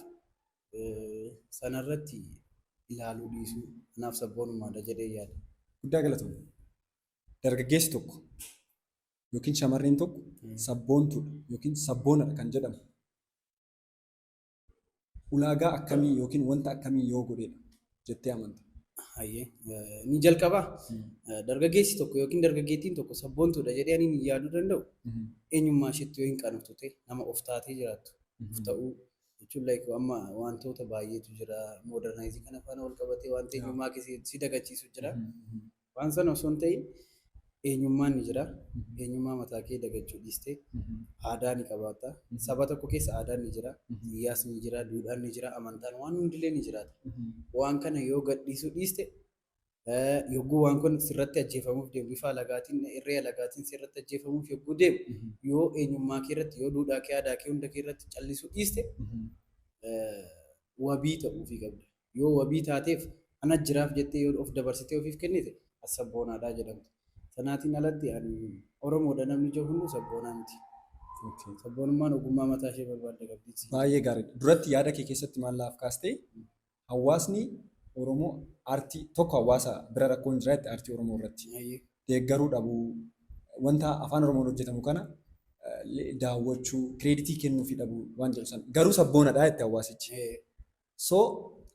eh, sanarratti ilaaluu dhiisuu anaaf sabboonummaadha jedhee yaada. Guddaa galatoomne. Dargaggeessi tokko yookiin shamarreen tokko sabboontuudha yookiin sabboonadha kan jedhamu ulaagaa akkamii yookiin wanta akkamii yoo godheedha jettee amanta? Hayyee eh, ni jalqabaa Eh, dargaggeessi tokko yookiin dargaggeettiin tokko sabboontuudha jedhee ani ni yaaduu danda'u eenyummaa isheetti yoo hin qanatu ta'e nama of taatee jiraattu of ta'uu jechuun like amma wantoota baay'eetu jira modernize kana faana wal qabatee wanta eenyummaa kee si- si dagachiisu jira Waan sana osoo hin ta'iin eenyummaan ni jira. Eenyummaa mataa kee dagachuu dhiistee aadaa ni qabaatta. Saba tokko keessa aadaan ni jira, siyaasni ni jira, duudhaan ni jira, amantaan waan hundillee ni jiraata. Waan kana yoo gadhiisuu dhiiste yogguu waan kun sirratti ajjeefamuuf deemu bifa alagaatiin irree alagaatiin sirratti ajjeefamuuf yogguu deemu yoo eenyummaa kee irratti yoo duudhaa kee aadaa kee hunda kee irratti callisuu dhiiste wabii ta'uufii qabda. Yoo wabii taateef, ana jiraaf jettee yoo of dabarsitee ofiif kennite, ati sabboonaadha jedhamta. Sanaatiin alatti ani Oromoodha namni jedhu hunduu sabboonaa miti. Sabboonummaan ogummaa mataa ishee barbaadda qabdi. Baay'ee gaariidha. Duratti yaada kee keessatti maal naaf kaastee hawaasni Oromoo aartii tokko hawaasa bira rakkoon jira jette aartii Oromoo irratti. Baay'ee. Deeggaruu dhabuu, wanta afaan Oromoon hojjetamu kana eh, daawwachuu, kireeditii kennuufii dhabuu waan jedhu sana. Garuu sabboonadha jette hawaasichi. Eh, So,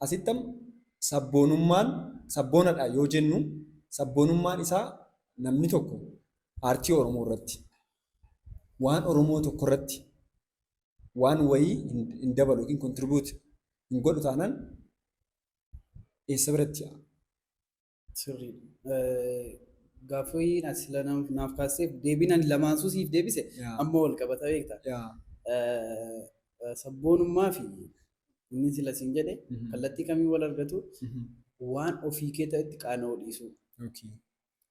asitti amma sabboonummaan sabboonadha yoo jennu sabboonummaan isaa namni tokko aartii Oromoo irratti waan Oromoo tokko irratti waan wayii hin dabalu yookiin contribute hin godhu taanaan eessa biratti Sirriidha. Gaaffii ati naaf kaasteef deebiin ani lamaansuu siif deebise amma wal qabata beekta. Sabboonummaa fi inni sila siin jedhe kallattii kamiin wal argatu waan ofii kee ta'etti qaana'uu dhiisuu.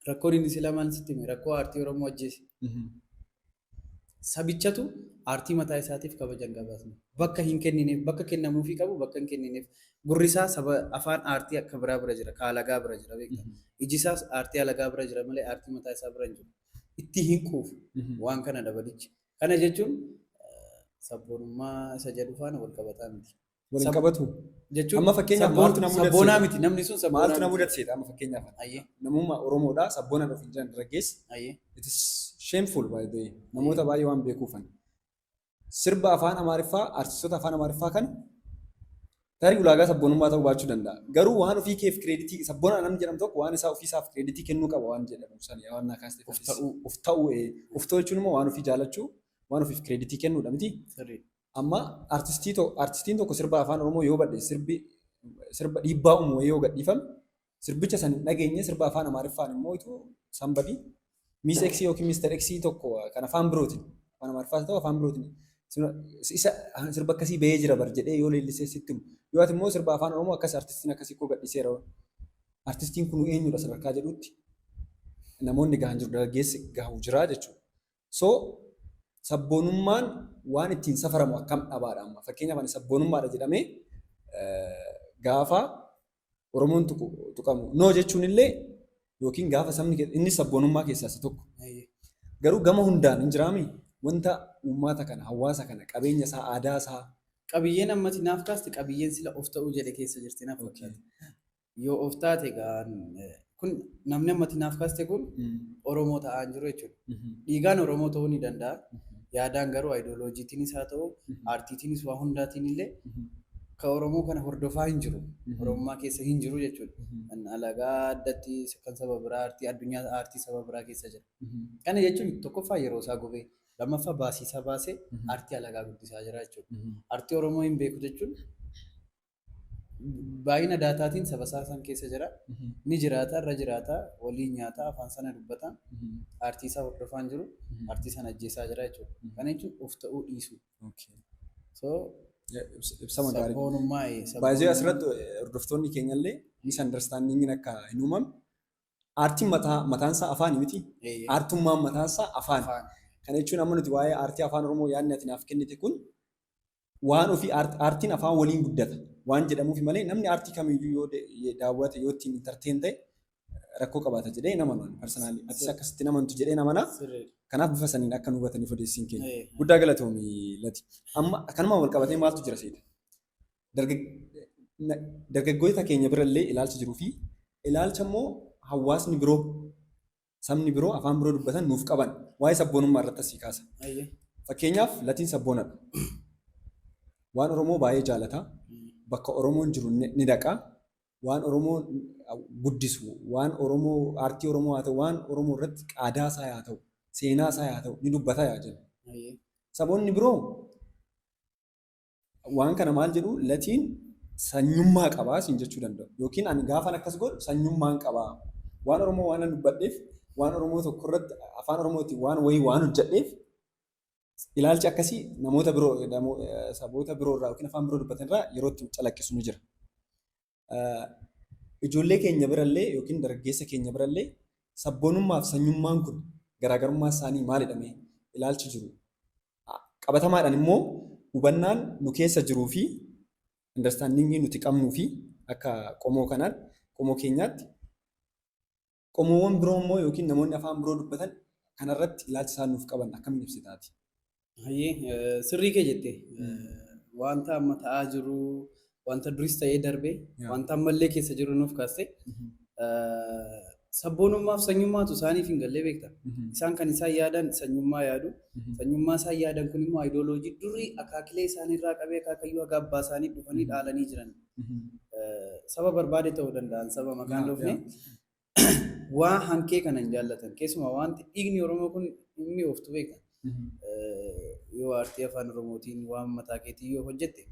Rakkoon inni sila maal sitti hime rakkoo aartii Oromoo ajjeese. Sabichatu aartii mataa isaatiif kabaja hin qabaatne. Bakka hin kennineef, bakka kennamuufii qabu bakka hin kennineef. Gurri isaa saba afaan aartii akka biraa bira jira, ka alagaa bira jira beekta. Iji isaas aartii alagaa bira jira malee aartii mataa isaa bira hin jiru. Itti hin quufu. Waan kanadha badichi. Kana jechuun sabboonummaa isa jedhu faana wal qabataa miti. Wal hin Sab- qabatu. Jechuun Amma fakkeenyaaf sabboon- maaltu na mudate? sabboonaa miti namni sun sabboonaa Maaltu na miti. mudate seeta amma fakkeenyaaf. Ayyee Namummaa Oromoodha sabboona dhufu hin jiran dargaggeessi. ayyee It is shameful by the way. Namoota baay'ee waan beekuufan. Sirba afaan Amaariffaa, artistoota afaan Amaariffaa kana tarii ulaagaa sabboonummaa ta'uu baachuu danda'a. Garuu waan ofii keef kireeditii sabboona namni jedhamu tokko waan isaa ofiisaaf kireeditii kennuu qaba waan jedhamu sana waan naa kaastee of ta'uu of ta'uu ee. Of ta'uu jechuun immoo waan ofii jaalachuu, waan ofiif kireeditii kennuudha miti. sirrii Amma artistii to- artistiin tokko sirba afaan Oromoo yoo badhe sirbi sirba dhiibbaa uumu wayii yoo gadhiifame sirbicha san hin dhageenye sirba afaan Amaariffaan immoo itu sanbadii miis eksii yookiin miistar eksii tokko kan afaan birootiin afaan Amaariffaa ta'u afaan birootiin sirba- isa sirba akkasii bahee jira bar jedhee yoo leellisee sitti himu. Yoo ati immoo sirba afaan Oromoo akkas artistiin akkasii koo gadhiiseera artistiin kun eenyudha sadarkaa jedhutti namoonni gahan jiru dargaggeessi gahu jira jechuudha. So sabboonummaan waan ittiin safaramu akkam dhabaadha amma. Fakkeenyaaf ani sabboonummaadha jedhamee gaafa Oromoon tuqamu no jechuun illee yookiin gaafa sabni inni sabboonummaa keessaa isa tokko. Garuu gama hundaan hin jiraami wanta uummata kana hawaasa kana qabeenya isaa aadaa isaa. Qabiyyeen ammati naaf kaaste qabiyyeen sila of ta'uu jedhe keessa jirti naaf fakkaata. Yoo of taate gaan kun namni ammatti naaf kaaste kun Oromoo ta'aa hin jiru jechuudha. Dhiigaan Oromoo ta'uu ni danda'a. Yaadaan garuu ayidooloojiitiinis haa ta'u, aartiitiinis waa hundaatiin illee ka Oromoo kana hordofaa hin jiru. Oromummaa keessa hin jiru jechuudha. Kan alagaa addatti kan saba biraa aartii addunyaa aartii saba biraa keessa jira. Kana jechuun tokkoffaa yeroo isaa gubee lammaffaa baasii isaa baasee aartii alagaa guddisaa jira jechuudha. Aartii Oromoo hin beeku jechuun Baay'ina daataatiin saba isaa san keessa jira. Ni jiraata, irra jiraata, waliin nyaata, afaan sana dubbata, aartii isaa hordofaa hin jiru, aartii sana ajjeesaa jira jechuudha. Kana jechuun of ta'uu dhiisuu. So, Ibsama gaarii. sabboonummaa ee, Baay'ee sabboonummaa- asirratti hordoftoonni keenyallee misunderstandingin akka hin uumamne aartiin mataa mataan isaa afaani miti. Ee, Aartummaan mataan isaa afaani. afaan. Kana jechuun amma nuti waa'ee aartii afaan Oromoo yaadni ati naaf kennite kun Waan ofii art artiin afaan waliin guddata waan jedhamuufi malee namni artii kamiiyyuu yoo da- ye- daawwate yoo ittiin entertain ta'e rakkoo qabaata jedhee hin amanu ani personally atis Sir. akkasitti hin amantu jedheen amana Sirri. kanaaf bifa saniin akka nu hubataniif odeessiin keenya Eh, guddaa galatoomi lati amma kanumaan wal qabatee maaltu jira seeta Dargag- na- dargaggoota keenya birallee ilaalcha jiruu fi ilaalcha immoo hawaasni biroo sabni biroo afaan biroo dubbatan nuuf qaban waa'ee sabboonummaa irratti asii kaasa. Ayyee. Fakkeenyaaf latiin sabboonadha. Waan Oromoo baay'ee jaalata. Bakka Oromoon jiru ni ni dhaqa. Waan Oromoo guddisu, waan Oromoo aartii Oromoo haa ta'u, waan Oromoo irratti qaadaa isaa haa ta'u, seenaa isaa haa ta'u ni dubbata yaa jennu. Ayyee. Saboonni biroo Waan kana maal jedhu latiin sanyummaa qaba siin jechuu danda'u. Yookiin ani gaafan akkas godhu sanyummaan qaba. Waan Oromoo waanan dubbadheef, waan Oromoo tokko irratti afaan Oromootiin waan wayii waan hojjedheef ilaalchi akkasii namoota biroo saboota biroo irraa yookiin afaan biroo dubbatan irraa yeroo itti calaqqisu ni jira. ijoollee keenya birallee yookiin dargaggeessa keenya birallee sabboonummaa fi sanyummaan kun garaagarummaa isaanii maalidha mee ilaalchi jiru qabatamaadhaan immoo hubannaan nu keessa jiruu fi understandingii nuti qabnuu fi akka qomoo kanaan qomoo keenyaatti Qomoowwan biroo immoo yookiin namoonni afaan biroo dubbatan kana irratti ilaalcha isaan nuuf qaban akkamiin ibsita ati? Hayyee sirrii kee jette wanta amma ta'aa jiru wanta duris ta'ee darbe wanta ammallee keessa jiru nuuf kaaste sabboonummaaf sanyummaatu isaaniif hin gallee beekta. Isaan kan isaan yaadan sanyummaa yaadu. Sanyummaa isaan yaadan kun immoo ayidooloojii durii akaakilee isaaniirraa qabee akaakayyuu haga abbaa isaanii dhufanii dhaalanii jiran. saba barbaade ta'uu danda'an saba maqaan dhufne waa hankee kana hin jaallatan keessumaa wanti dhiigni oromoo kun inni ooftu beeka yoo aartii afaan oromootiin waan mataa keetii yoo hojjette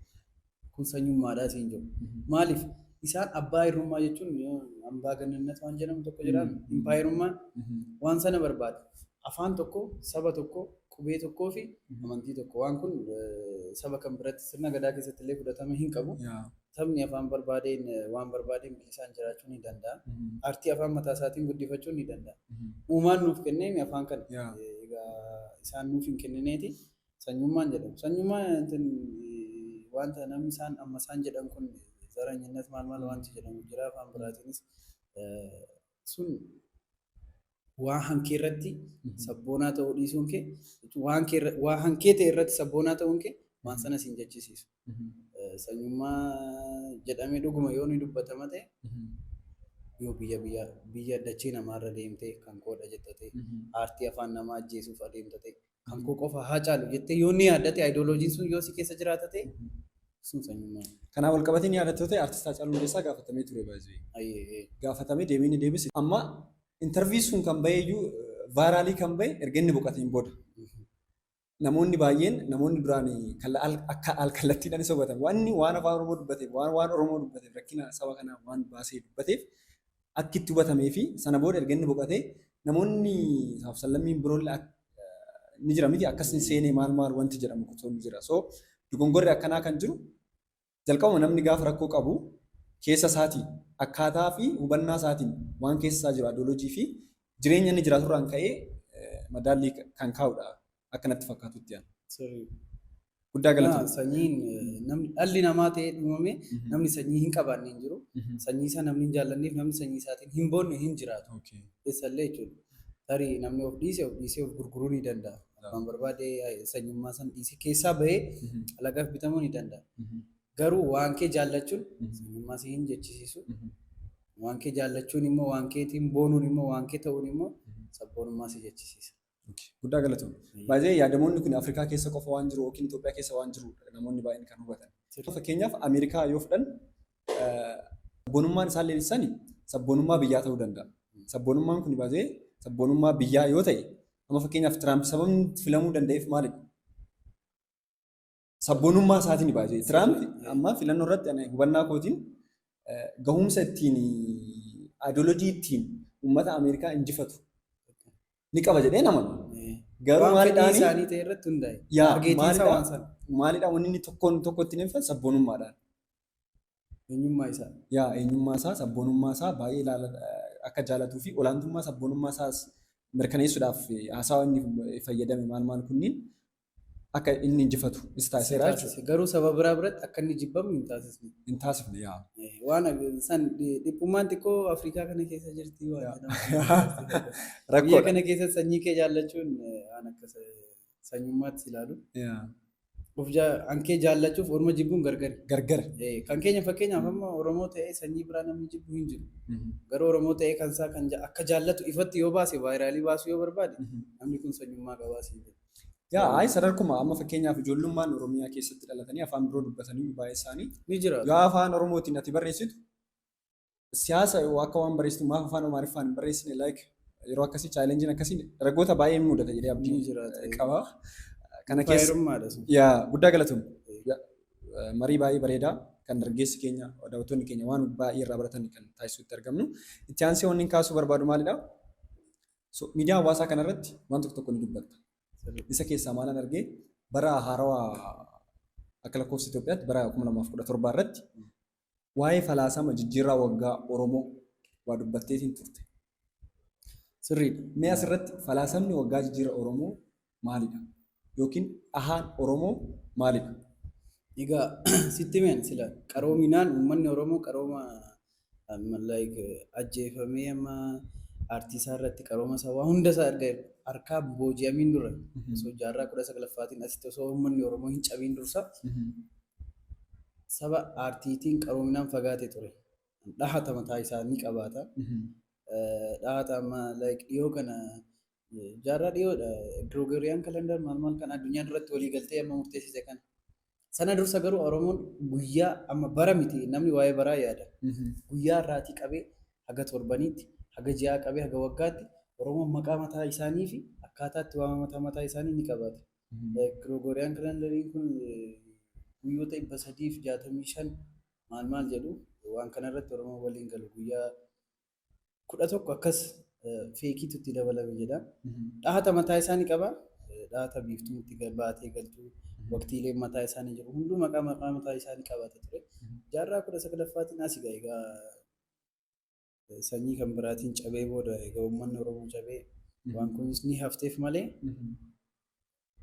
kun sanyummaadhaa siin jedhu maaliif isaan abbaa irrummaa jechuun yoo ambaa gannannat waan jedhamu tokko jiraan impaayerummaan waan sana barbaada Afaan tokko, saba tokko, qubee tokkoofi amantii tokko. Waan kun saba kam biratti sirna Gadaa keessattillee fudhatama hinqabu. Sabni afaan barbaadeen waan barbaadeen bilisaan jiraachuu ni danda'a. Aartii afaan mataasaatiin guddifachuun ni danda'a. Uumaan nuuf kenneemi afaan kana. Egaa isaan nuuf hinkennineeti sanyummaan jedhamu. Sanyummaa intin wanta namni isaan amma isaan jedhan kun zaranyinnet maal maal wanti jedhamu jira afaan biraatiinis Sun waa hankee irratti sabboonaa ta'uu dhiisuun kee waa hankee ta'e irratti sabboonaa ta'uun kee waan sana siin jechisiisu. Sanyummaa jedhamee dhuguma yoo ni dubbatama ta'e yoo biyya biyya biyya dachee namaarra deemtee kan koodha jetta ta'e aartii afaan namaa ajjeesuuf adeemta ta'e kan koo qofa haa caalu jettee yoo ni yaaddate ayidooloojiin sun yoo si keessa jiraata ta'e sun sanyummaa. Kanaan wal qabatee ni yaadattu ta'e artist Haacaaluu Hundeessaa gaafatamee ture baay'ee. Ayyee. Gaafatamee deebii ni deebise. Amma interview sun kan bahee iyyuu vaayiraalii kan bahe erga inni boqateen booda. Namoonni baay'een namoonni duraan akka al kallattiidhaanis hubatan wanni waan afaan Oromoo dubbateef waan waan Oromoo dubbateef rakkina saba kanaa waan baasee dubbateef akki itti hubatamee fi sana booda erga inni boqate namoonni saaf sallammiin biroolle ak- ni jira miti akkas hin seenee maal maal wanti jedhamu kutuun ni jira. So dogongorri akkanaa kan jiru jalqabuma namni gaafa rakkoo qabu keessa isaatii akkaataa fi hubannaa isaatiin waan keessa isaa jiru adoolojii fi jireenya inni jiraaturraan ka'ee eh, madaallii kan kaa'udha. akka natti fakkaatutti an. Sirriidha. Guddaa Yaa, galatoomi. Sanyiin eh, namni dhalli namaa ta'ee uumame Mhm. namni sanyii hin qabaanne hin jiru. Mhm. Sanyii isaa namni hin jaallanneef namni sanyii isaatiin hin boonne hin jiraatu. Okay. Keessallee jechuudha. Tarii namni of dhiise of dhiisee of gurguruu ni danda'a. Abbaan barbaade eh, sanyummaa san dhiisee keessaa bahee Mhm. alagaaf bitamuu ni danda'a. Mhm. Garuu waan kee jaallachuun Mhm. sanyummaa si hin jechisiisu. Mhm. Waan kee jaallachuun immoo waan keetiin boonuun immoo waan kee ta'uun immoo Mhm. sabboonummaa si jechisiisa. Guddaa galatoom. Baay'ee yaadamoonni kun Afrikaa keessa qofa waan jiru yookiin Itoophiyaa keessa waan jiru namoonni baay'een kan hubatan. Fakkeenyaaf Ameerikaa yoo fudhan sabboonummaan isaan leellisani sabboonummaa biyyaa ta'uu danda'a. Sabboonummaan kun baay'ee sabboonummaa biyyaa yoo ta'e amma fakkeenyaaf Tiraamp sababni filamuu danda'eef maalidha? sabboonummaa isaatiin ni baay'ee. Tiraamp amma filannoo irratti ani hubannaa kootiin eh, gahumsa ittiin ideoloojii ittiin uummata Ameerikaa injifatu ni qaba jedhee nama. Garuu Waan maalidhaan- fedhii isaanii ta'e irratti hundaa'e. Yaa, Targeetiin isaa maalidhaa? waan sana. Maalidhaa wanni inni tokkoon tokko ittiin ibsan sabboonummaadhaan. Eenyummaa isaa. Yaa eenyummaa isaa sabboonummaa isaa baay'ee ilaala akka jaalatuu fi olaantummaa sabboonummaa isaas mirkaneessuudhaaf eh, haasawaa inni fayyadame maal maal kunniin akka inni injifatu is taasiseera jechuudha. Garuu saba biraa biratti akka inni jibbamu hin taasisne. Hin taasifne yaa. Waan san dhiphummaan xiqqoo Afrikaa kana keessa jirti waan jedhamu. Biyya kana keessa sanyii kee jaallachuun waan akka sanyummaatti ilaalu. Of hankee jaallachuuf orma jibbuun gargari. Gargara. Kan keenya fakkeenyaaf amma Oromoo ta'ee sanyii biraa namni jibbu hin jiru. Garuu Oromoo ta'ee kan isaa kan akka jaallatu ifatti yoo baase vaayiraalii baasuu yoo barbaade namni kun sanyummaa qabaa siin jedhu. Yaa ayi sadarkuma amma fakkeenyaaf ijoollummaan Oromiyaa keessatti dhalatanii afaan biroo dubbatanii baay'ee isaanii Ni jira. yoo afaan Oromootiin ati barreessitu siyaasa yoo akka waan barreessitu maaf afaan Amaariffaan hin barreessine like yeroo akkasii chaalenjiin akkasii dargaggoota baay'ee ni mudata jedhee Ni abdii jira. eh, qaba. Kana keessa Faayirummaadha sun. yaa guddaa galatoom. Yaa, eh, Marii baay'ee bareedaa kan dargaggeessi keenya daawwattoonni keenya waan baay'ee irraa baratan kan taasisuutti argamnu. Itti aansee wanni hin kaasuu barbaadu maalidha? So, miidiyaa hawaasaa kana irratti waan tokko tokko ni dubbatta. Isa keessaa maalan argee bara haarawa akka lakkoofsa Itoophiyaatti bara 2017 irratti waa'ee falaasama jijjiirraa waggaa Oromoo waa dubbatteetiin turte. Sirriidha. Mee asirratti falaasamni waggaa jijjiirra Oromoo maalidha? Yookiin dhahaan Oromoo maalidha? Egaa sitti himen sila qaroominaan uummanni Oromoo qarooma like ajjeefamee amma aartii isaa irratti qarooma isaa waa hunda isaa erga harkaa booji'amiin dura osoo jaarraa kudha saglaffaatiin asitti osoo uummanni Oromoo hin cabiin dursa saba aartiitiin qaroominaan fagaate ture. Dhahata mataa isaa ni qabaata. Dhahata amma like dhiyoo kana Jaarraa dhiyoodha. Gregorian calendar maal maal kan addunyaa duratti walii galtee amma murteessite kana. Sana dursa garuu Oromoon guyyaa amma bara miti namni waa'ee baraa yaada. Guyyaa irraatii qabee haga torbaniitti, haga ji'aa qabee haga waggaatti Oromoon maqaa mataa isaanii fi akkaataa itti waama mataa mataa isaanii ni qabaata. Gregorian calendariin kun guyyoota dhibba sadii fi jaatamii shan maal maal jedhu waan kanarratti Oromoon waliin galu guyyaa kudha tokko akkas feekiitu itti dabalame jedha. Dhahata mataa isaa ni qaba. Dhahata biiftuun itti baatee galtu waqtiileen mataa isaa ni jiru. Hunduu maqaa maqaa mataa isaa ni qabaata ture. Jaarraa kudha saglaffaatiin as egaa egaa sanyii kan biraatiin cabee booda egaa uummanni Oromoo cabee waan kunis ni hafteef malee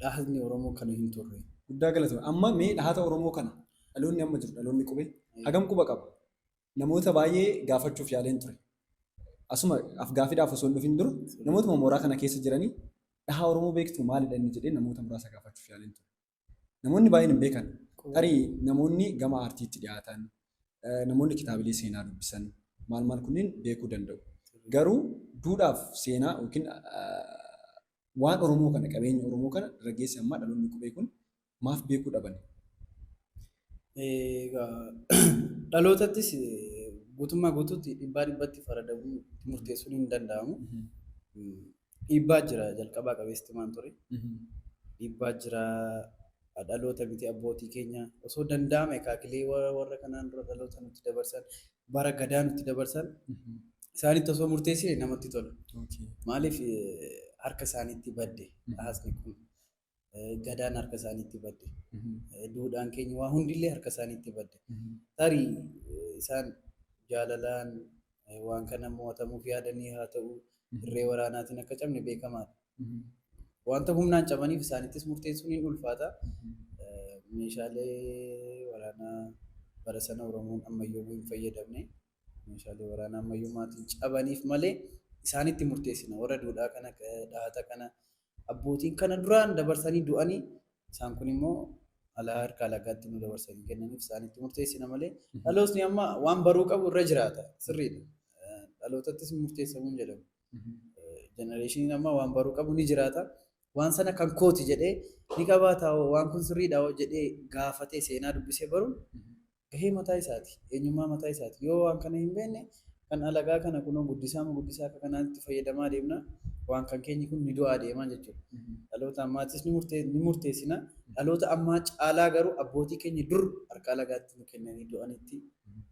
dhahatni Oromoo kana hin turre. Guddaa galatoomi. Amma mee dhahata Oromoo kana dhaloonni amma jiru dhaloonni qube hagam quba qaba? Namoota baay'ee gaafachuuf yaaleen ture. Asuma afgaafiidhaaf osoo hin dhufin dura namootuma mooraa kana keessa jiranii dhahaa Oromoo beektu maalidha inni jedhee namoota muraasa gaafachuuf yaaleen ture. Namoonni baay'een hin beekan. Tarii namoonni gama aartiitti dhiyaatan, eh, namoonni kitaabilee seenaa dubbisan maal maal kunneen beekuu danda'u. Garuu duudhaaf seenaa yookiin ah, waan Oromoo kana, qabeenya Oromoo kana dargaggeessi ammaa dhaloonni qubee kun maaf beekuu dhabani? Egaa dhalootattis guutummaa guutuutti dhibbaa dhibbatti faradamuu murteessuun hin danda'amu. Dhiibbaa jira jalqabaa qabeessitti maan ture. Dhiibbaa jira dhaloota miti abbootii keenya osoo danda'ame akaakilee warra kanaan dura dhaloota nutti dabarsan bara gadaa nutti dabarsan isaanitti osoo murteessine namatti tola. Maaliif harka isaaniitti badde haasni kun gadaan harka isaaniitti badde duudhaan keenya waa hundillee harka isaaniitti badde tarii isaan jaalalaan waan kana mo'atamuuf yaadanii haa ta'u irree waraanaatiin akka cabne beekamaadha. Wanta humnaan cabaniif isaanittis murteessuun hin ulfaata. Meeshaalee waraanaa bara sana Oromoon ammayyoomuu hin fayyadamne. Meeshaalee waraanaa ammayyummaatiin cabaniif malee isaanitti murteessina. Warra duudhaa kana dhahata kana abbootiin kana duraan dabarsanii du'anii isaan kun immoo alaa harka alagaatti nu dabarsanii kennaniif isaanitti murteessina malee dhalootni amma waan baruu qabu irra jiraata sirriidha. Dhalootattis murteessamuun jedhamu. Jenereeshiniin ammaa waan baruu qabu ni jiraata. Waan sana kan kooti jedhee ni qabaataa hoo waan kun sirriidha hoo jedhee gaafatee seenaa dubbisee baruun gahee mataa isaati. Eenyummaa mataa isaati. Yoo waan kana hin beekne kan alagaa kana kunoo guddisaa moo guddisaa akka kanaatti fayyadamaa deemna. Waan kan keenyi kun ni du'aa deemaa jechuudha. Dhaloota ammaattis ni murtee- ni murteessina. Dhaloota ammaa caalaa garuu abbootii keenya dur harka alagaatti nu kennanii du'anitti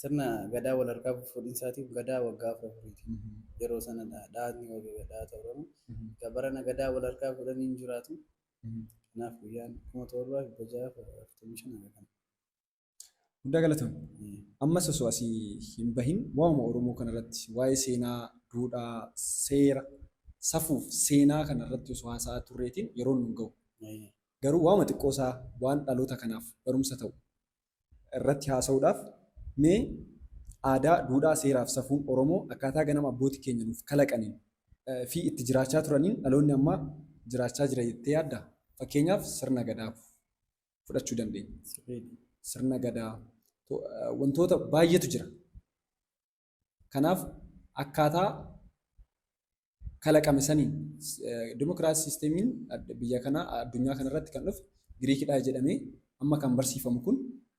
Sirna Gadaa wal harkaa fuudhinsaatiif Gadaa waggaa afur afuriiti. Yeroo sana dhaatni wagega dhaata Oromoo. Egaa barana Gadaa wal harkaa fuudhan hin jiraatu. Kanaaf guyyaan 7645 haga kana. Guddaa galatoomi. Ammas osoo asii hin bahin waa'uma Oromoo kanarratti waa'ee seenaa, duudhaa, seera, safuuf seenaa kanarratti osoo haasa'aa turreetiin yeroon nun gahu. Garuu waa'uma xiqqoosaa waan dhaloota kanaaf barumsa ta'u irratti haasa'uudhaaf mee aadaa, duudhaa, seeraa fi safuu Oromoo akkaataa ganama abbooti keenya nuuf kalaqaniin fi itti jiraachaa turaniin dhaloonni ammaa jiraachaa jira jettee yaaddaa? Fakkeenyaaf sirna Gadaa fudhachuu dandeenya. Sirna Gadaa wantoota baay'eetu jira. Kanaaf akkaataa kalaqame saniin dimokiraasii siistemiin biyya kanaa addunyaa kanarratti kan dhufe Giriikidha jedhamee amma kan barsiifamu kun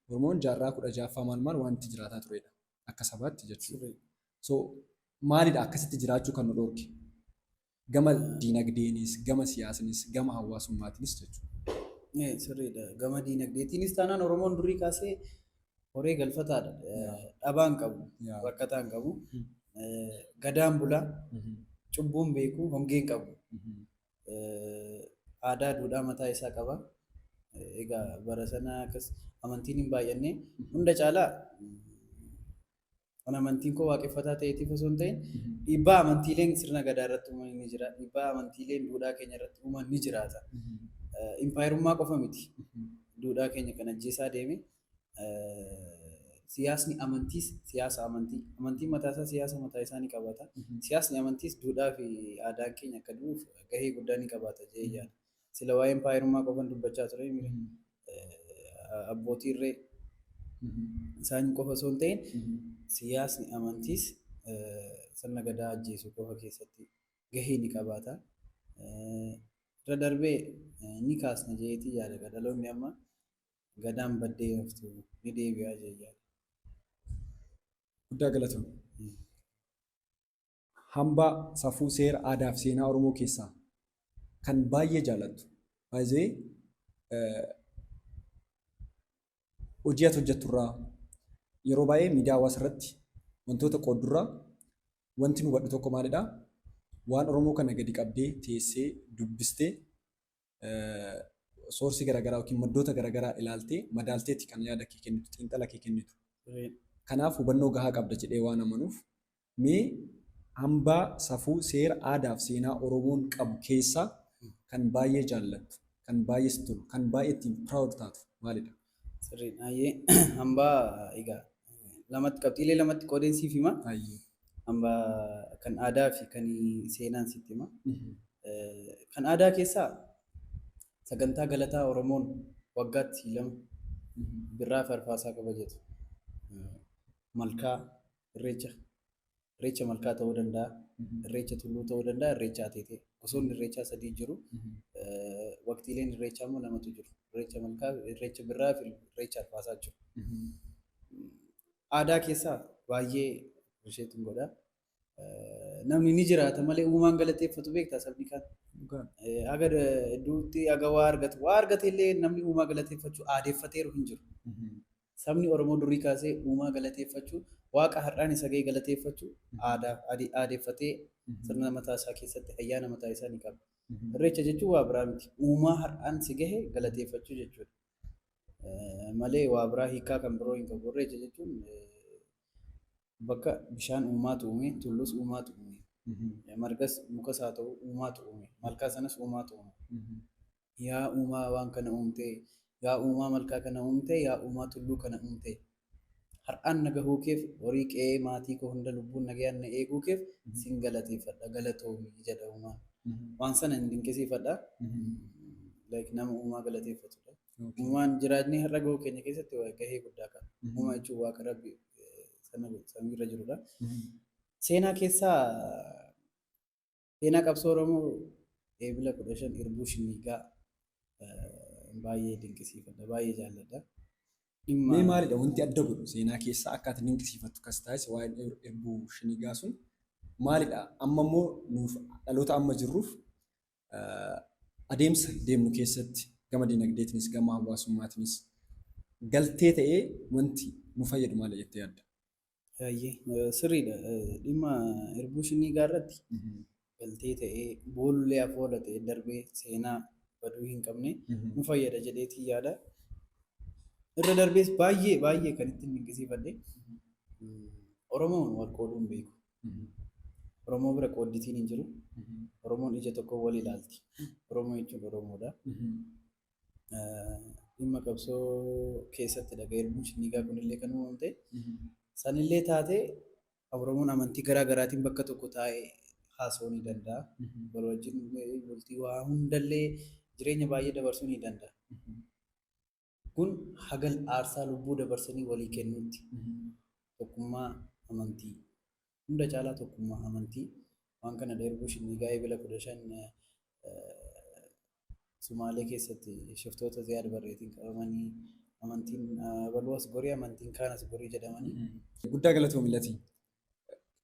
Oromoon jaarraa kudha ja'affaa maal maal waan itti jiraataa turedha akka sabaatti jechuudha. So maalidha akkasitti jiraachuu kan nu dhorke? Gama diinagdeenis, gama siyaasnis, gama hawaasummaatinis jechuudha. Sirriidha. Gama diinagdeetiinis taanaan Oromoon durii kaasee horee galfataadha. Dhabaa hin qabu, rakkataa hin qabu. Gadaan bula, cubbuu hin beeku, hongee hin qabu. Aadaa, duudhaa mataa isaa qaba. Egaa bara sana akkas amantiin hin baay'anne. Hunda caalaa Kan amantiin koo waaqeffataa ta'eetiif osoo hin ta'in dhiibbaa amantiileen sirna gadaa irratti uuman ni jira. Dhiibbaa amantiileen duudhaa keenya irratti uuman ni jiraata. Impaayerummaa qofa miti. Duudhaa keenya kan ajjeesaa deeme siyaasni amantiis siyaasa amantii. Amantiin mataa isaa siyaasa mataa isaa ni qabaata. Siyaasni amantiis duudhaa fi aadaan keenya akka du'uuf gahee guddaa ni qabaata jedhee yaada. Sila waa'ee impaayerummaa qofan dubbachaa ture mire. Abbootii irree isaan qofa osoo hin ta'in siyaasni amantiis sirna gadaa ajjeesuu qofa keessatti gahee ni qabaata. Irra darbee ni kaasna jedheetii yaada egaa dhaloonni amma gadaan baddee hin haftu ni deebi'a jedhee yaada. Guddaa galatoomi. Hambaa safuu seera aadaa fi seenaa oromoo keessaa kan baay'ee jaalattu by the way hojii ati hojjettu irraa yeroo baay'ee miidiyaa hawaasa irratti wantoota qooddu irraa wanti nu hubadhu tokko maalidha waan oromoo kana gadi qabdee teessee dubbistee soorsii garaagaraa yookiin maddoota garaagaraa ilaaltee madaalteeti kan yaada kee kennitu, xiinxala kee kennitu. Kanaaf hubannoo gahaa qabda jedhee waan amanuuf mee hambaa safuu seera aadaa fi seenaa Oromoon qabu keessaa kan baay'ee jaallattu, kan baay'ee sitti tolu, kan baay'ee ittiin proud taatu maalidha? Sirriidha. Hayyee hambaa egaa lamatti qabxiilee lamatti qoodeen siif hima. Hayyee. Hambaa kan aadaa fi kan seenaan sitti hima. Kan aadaa keessaa sagantaa galataa Oromoon waggaatti lama birraa fi arfaasaa kabajatu. Malkaa, irreecha Irreecha malkaa ta'uu danda'a, irreecha tulluu ta'uu danda'a, irreecha ateetee. Gosoonni irreechaa sadii jiru. Waqtiileen irreechaa immoo lamatu jiru. Irreecha malkaa, irreecha birraa fi irreecha arfaasaa jiru. Aadaa keessaa baay'ee isheetiin godha. Namni ni jiraata malee uumaan galateeffatu beektaa sabni kaan. Haga hedduutti haga waa argatu. Waa argate illee namni uumaa galateeffachuu aadeffateeru hin jiru. Sabni Oromoo durii kaasee uumaa galateeffachu, Waaqa har'aan isa ga'e galateeffachu aadaaf aadeffatee sirna mataa isaa keessatti ayyaana mataa isaa ni qaba. Irreecha jechuun waa biraa miti. Uumaa har'aan si gahe galateeffachuu jechuudha. Malee waa biraa hiikaa kan biroo hin qabu. Irreecha jechuun bakka bishaan uumaatu uume, tulluus uumaatu uume, margas mukas haa ta'u uumaatu uume, malkaa sanas uumaatu uume. Yaa Uumaa waan kana uumte, Yaa Uumaa malkaa kana uumte, Yaa Uumaa tulluu kana uumte, har'aan na gahuu keef, horii qe'ee maatii koo hunda lubbuun nagayaan na eeguu keef sin galateeffadha, galatoomi jedha Uumaan. Waan sana hin dinqisiifadha. Like nama Uumaa galateeffatu dha. Uumaan jiraatnee har'a gahuu keenya keessatti gahee guddaa qaba. Uumaa jechuun Waaqa Rabbi samii irra jiru dha. Seenaa keessaa Seenaa qabsoo Oromoo Eebila 15 Irbuu Shinniigaa baay'ee dinqisiifadha, baay'ee jaalladha. Dhimma Mee maalidha wanti adda godhu seenaa keessaa akka ati dinqisiifattu kas taasise waa'een Ir- irbuu shinigaa sun maalidha? Amma immoo nuuf dhaloota amma jirruuf eh, adeemsa deemnu keessatti gama dinagdeetinis gama hawaasummaatinis galtee ta'ee wanti nu fayyadu maali jettee yaadda? Sirriidha. Dhimma irbuu shinnii gaarratti galtee ta'ee boolullee afoola ta'ee darbee seenaa baduu hin qabne nu fayyada jedheetiin yaada. Irra darbees baay'ee baay'ee kan ittiin dinqisiifadhe Oromoon wal qooduu hin beeku. Oromoo bira qoodditiin hin jiru. Oromoon ija tokkoon wal ilaalti. Oromoo jechuun Oromoodha. dhimma qabsoo keessatti dhaga erguun shinnigaa kunillee kan uumamte. Sanillee taate Oromoon amantii garaa garaatiin bakka tokko taa'ee haasa'uu ni danda'a. Wal wajjin bultii waa hundallee jireenya baay'ee dabarsuu ni danda'a. Kun hagal aarsaa lubbuu dabarsanii walii kennuutti tokkummaa amantii Hunda caalaa tokkummaa amantii. Waan kana dheerbuuf Shinniigaa Eebila 15 Sumaalee keessatti shiftoota Ziyaad Barreetiin qabamanii amantiin abaluu as gorii amantiin kaan as gorii jedhamanii. Guddaa galatoomi Latii.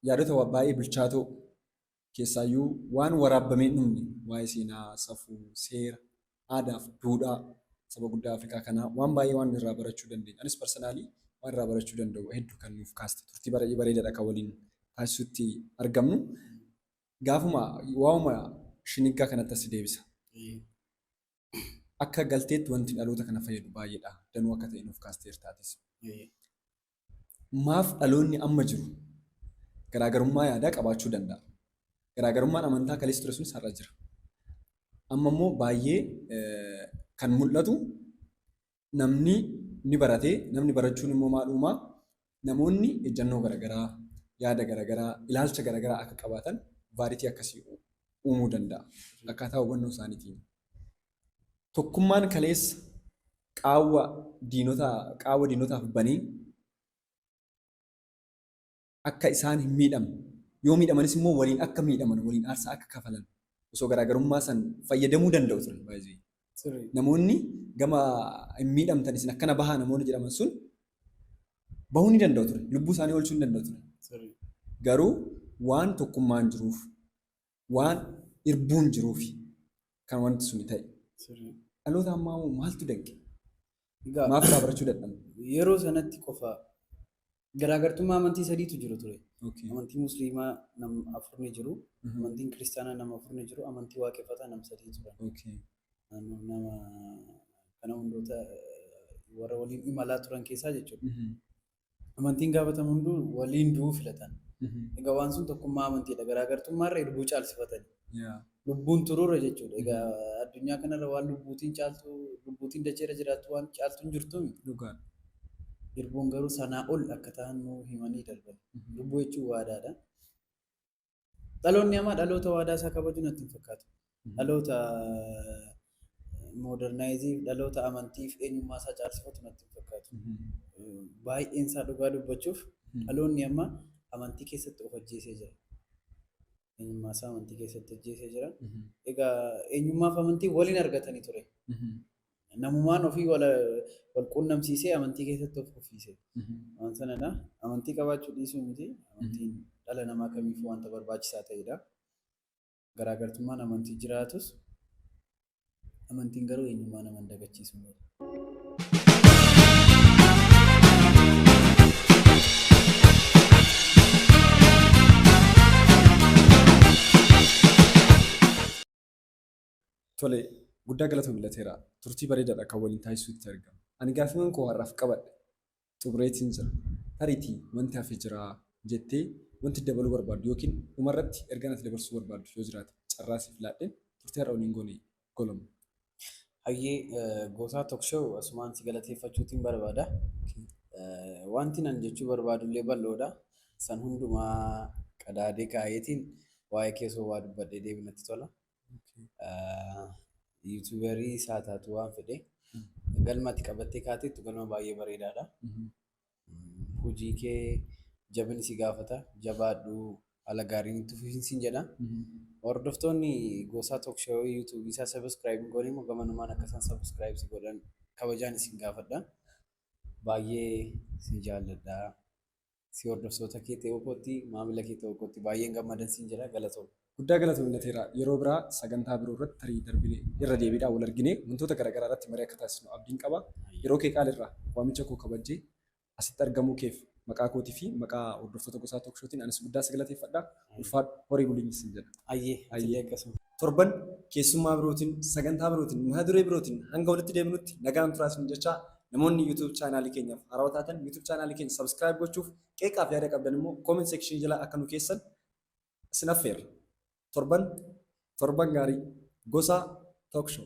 Yaadota baay'ee bilchaatoo keessaayyuu waan waraabbamee hin dhumne waa'ee seenaa, safuu, seera, aadaa fi duudhaa saba guddaa Afrikaa kanaa waan baay'ee waan irraa barachuu dandeenyu. Anis personally waan irraa barachuu danda'u hedduu kan nuuf kaaste turtii baay'ee bareedaadha kan waliin taasisutti argamnu. Gaafuma waa'uma shiniggaa kanatti asi deebisa. Akka galteetti wanti dhaloota kana fayyadu baay'eedha. Danuu akka ta'e nuuf kaasteerta atis. Maaf dhaloonni amma jiru garaagarummaa yaadaa qabaachuu danda'a? Garaagarummaan amantaa kaleessa ture sunis har'a jira. Amma immoo baay'ee kan mul'atu namni ni barate, namni barachuun immoo maal uumaa? Namoonni ejjannoo garaagaraa, yaada garaagaraa, ilaalcha garaagaraa akka qabaatan vaaritii akkasii uumuu danda'a. Akkaataa hubannoo isaaniitiin. Tokkummaan kaleessa qaawwa diinotaa qaawwa diinotaaf banee akka isaan hin miidhamne yoo miidhamanis immoo waliin akka miidhaman waliin aarsaa akka kafalan osoo garaagarummaa san fayyadamuu danda'u turan baay'ee. Sirrii. Namoonni gama hin miidhamtan isin akkana bahaa namoonni jedhaman sun bahuu ni danda'u ture. Lubbuu isaanii oolchuu ni danda'u ture. Sirrii. Garuu waan tokkummaan jiruuf waan irbuun jiruufi kan wanti suni ta'e. Sirrii. Dhaloota ammaa immoo maaltu danqe? Egaa Maaf irraa barachuu dadhabne? yeroo sanatti qofa garaagartummaa amantii sadiitu jiru ture. Okay. Amantii musliimaa nam afur ni jiru. Mhm. Amantiin kiristaanaa nama afur ni jiru. Amantii waaqeffataa nam sadii turan. Okay. Naannoo nama kana hundoota eh, warra waliin imalaa turan keessaa jechuudha. Mhm. amantiin gaafatamu hunduu waliin du'uu filatan. Egaa waan sun tokkummaa amantiidha. Garaagartummaarra irbuu caalsifatani. Lubbuun turuurra jechuudha. Egaa addunyaa kanarra waan lubbuutiin caaltu, lubbuutiin dacheerra jiraattu waan caaltu hin jirtu miti. Dhugaa. Irbuun garuu sanaa ol akka ta'an nuu himanii darban. Lubbuu jechuun waadaadha. Dhaloonni amaa dhaloota waadaa isaa kabaju natti hin fakkaatu. Dhaloota moodernaayizii, dhaloota amantiif eenyummaa isaa caalsifatu natti hin fakkaatu. Baay'een isaa dhugaa dubbachuuf dhaloonni amma amantii keessatti of ajjeesee jira. Eenyummaa isaa amantii keessatti ajjeesee jira. Egaa eenyummaaf amantii waliin argatanii ture. Namumaan ofii wal wal quunnamsiisee amantii keessatti of kuffiise. Waan sanadha. Amantii qabaachuu dhiisuu miti. Amantiin dhala namaa kamiifuu wanta barbaachisaa ta'edha. Garaagartummaan amantii jiraatus amantiin garuu eenyummaa nama hin dagachiisu. Tole, guddaa galatoomi Lateeraa. Turtii bareedaadha kan waliin taasisuutti argama. Ani gaaffiiwwan koo har'aaf qabadhe xumureetiin jira. Tariitii wanti hafe jiraa jettee wanti dabaluu barbaaddu yookiin dhumarratti ergaan ati dabarsuu barbaaddu yoo jiraate carraa siif laadheen turtii har'a waliin goone goloma. Hayyee Gootaa Talk Show asumaan si galateeffachuutiin barbaada. Wanti nan jechuu barbaadullee bal'oodha. San hundumaa qadaadee kaa'eetiin waa'ee kee osoo waa dubbadhee deebi'u natti tola. Yuutuubarii isaa taatu waan fedhe galma ati qabattee kaateettu galma baay'ee bareedaadha. Hojii kee jabinni si gaafata jabaadhu haala gaariin itti fufiin siin jedha. Hordoftoonni gosaa tookshoowii yuutuubii isaa sabiskiraayib hin goone immoo gamanumaan akka isaan sabiskiraayib si godhan kabajaan isin gaafadha. Baay'ee si jaalladha. si hordoftoota kee ta'uu kootti maamila kee ta'uu kootti baay'een gammadan siin jedha galatoomi. Guddaa galatoomi Nateera. Yeroo biraa sagantaa biroo irratti tarii darbine irra deebiidhaan wal argine wantoota garaagaraa irratti marii akka taasisnu abdiin qaba. Yeroo kee qaali irraa waamicha koo kabajjee asitti argamuu keef maqaa kootii fi maqaa hordoftoota Gosaa Tookshotiin anis guddaa si galateeffadha. Ulfaadhu horii buli sin jedha. Ayyee Ayyee. atillee akkasuma. Torban keessummaa birootiin, sagantaa birootiin, mata duree birootiin hanga walitti deebinutti nagaan turaa isin jechaa namoonni YouTube chaanaalii keenyaaf haarawaa taatan YouTube chaanaalii keenya subscribe gochuuf qeeqaaf yaada qabdan immoo comment section jala akka nu keessan isin affeerra. Torban torban gaarii gosaa talk show.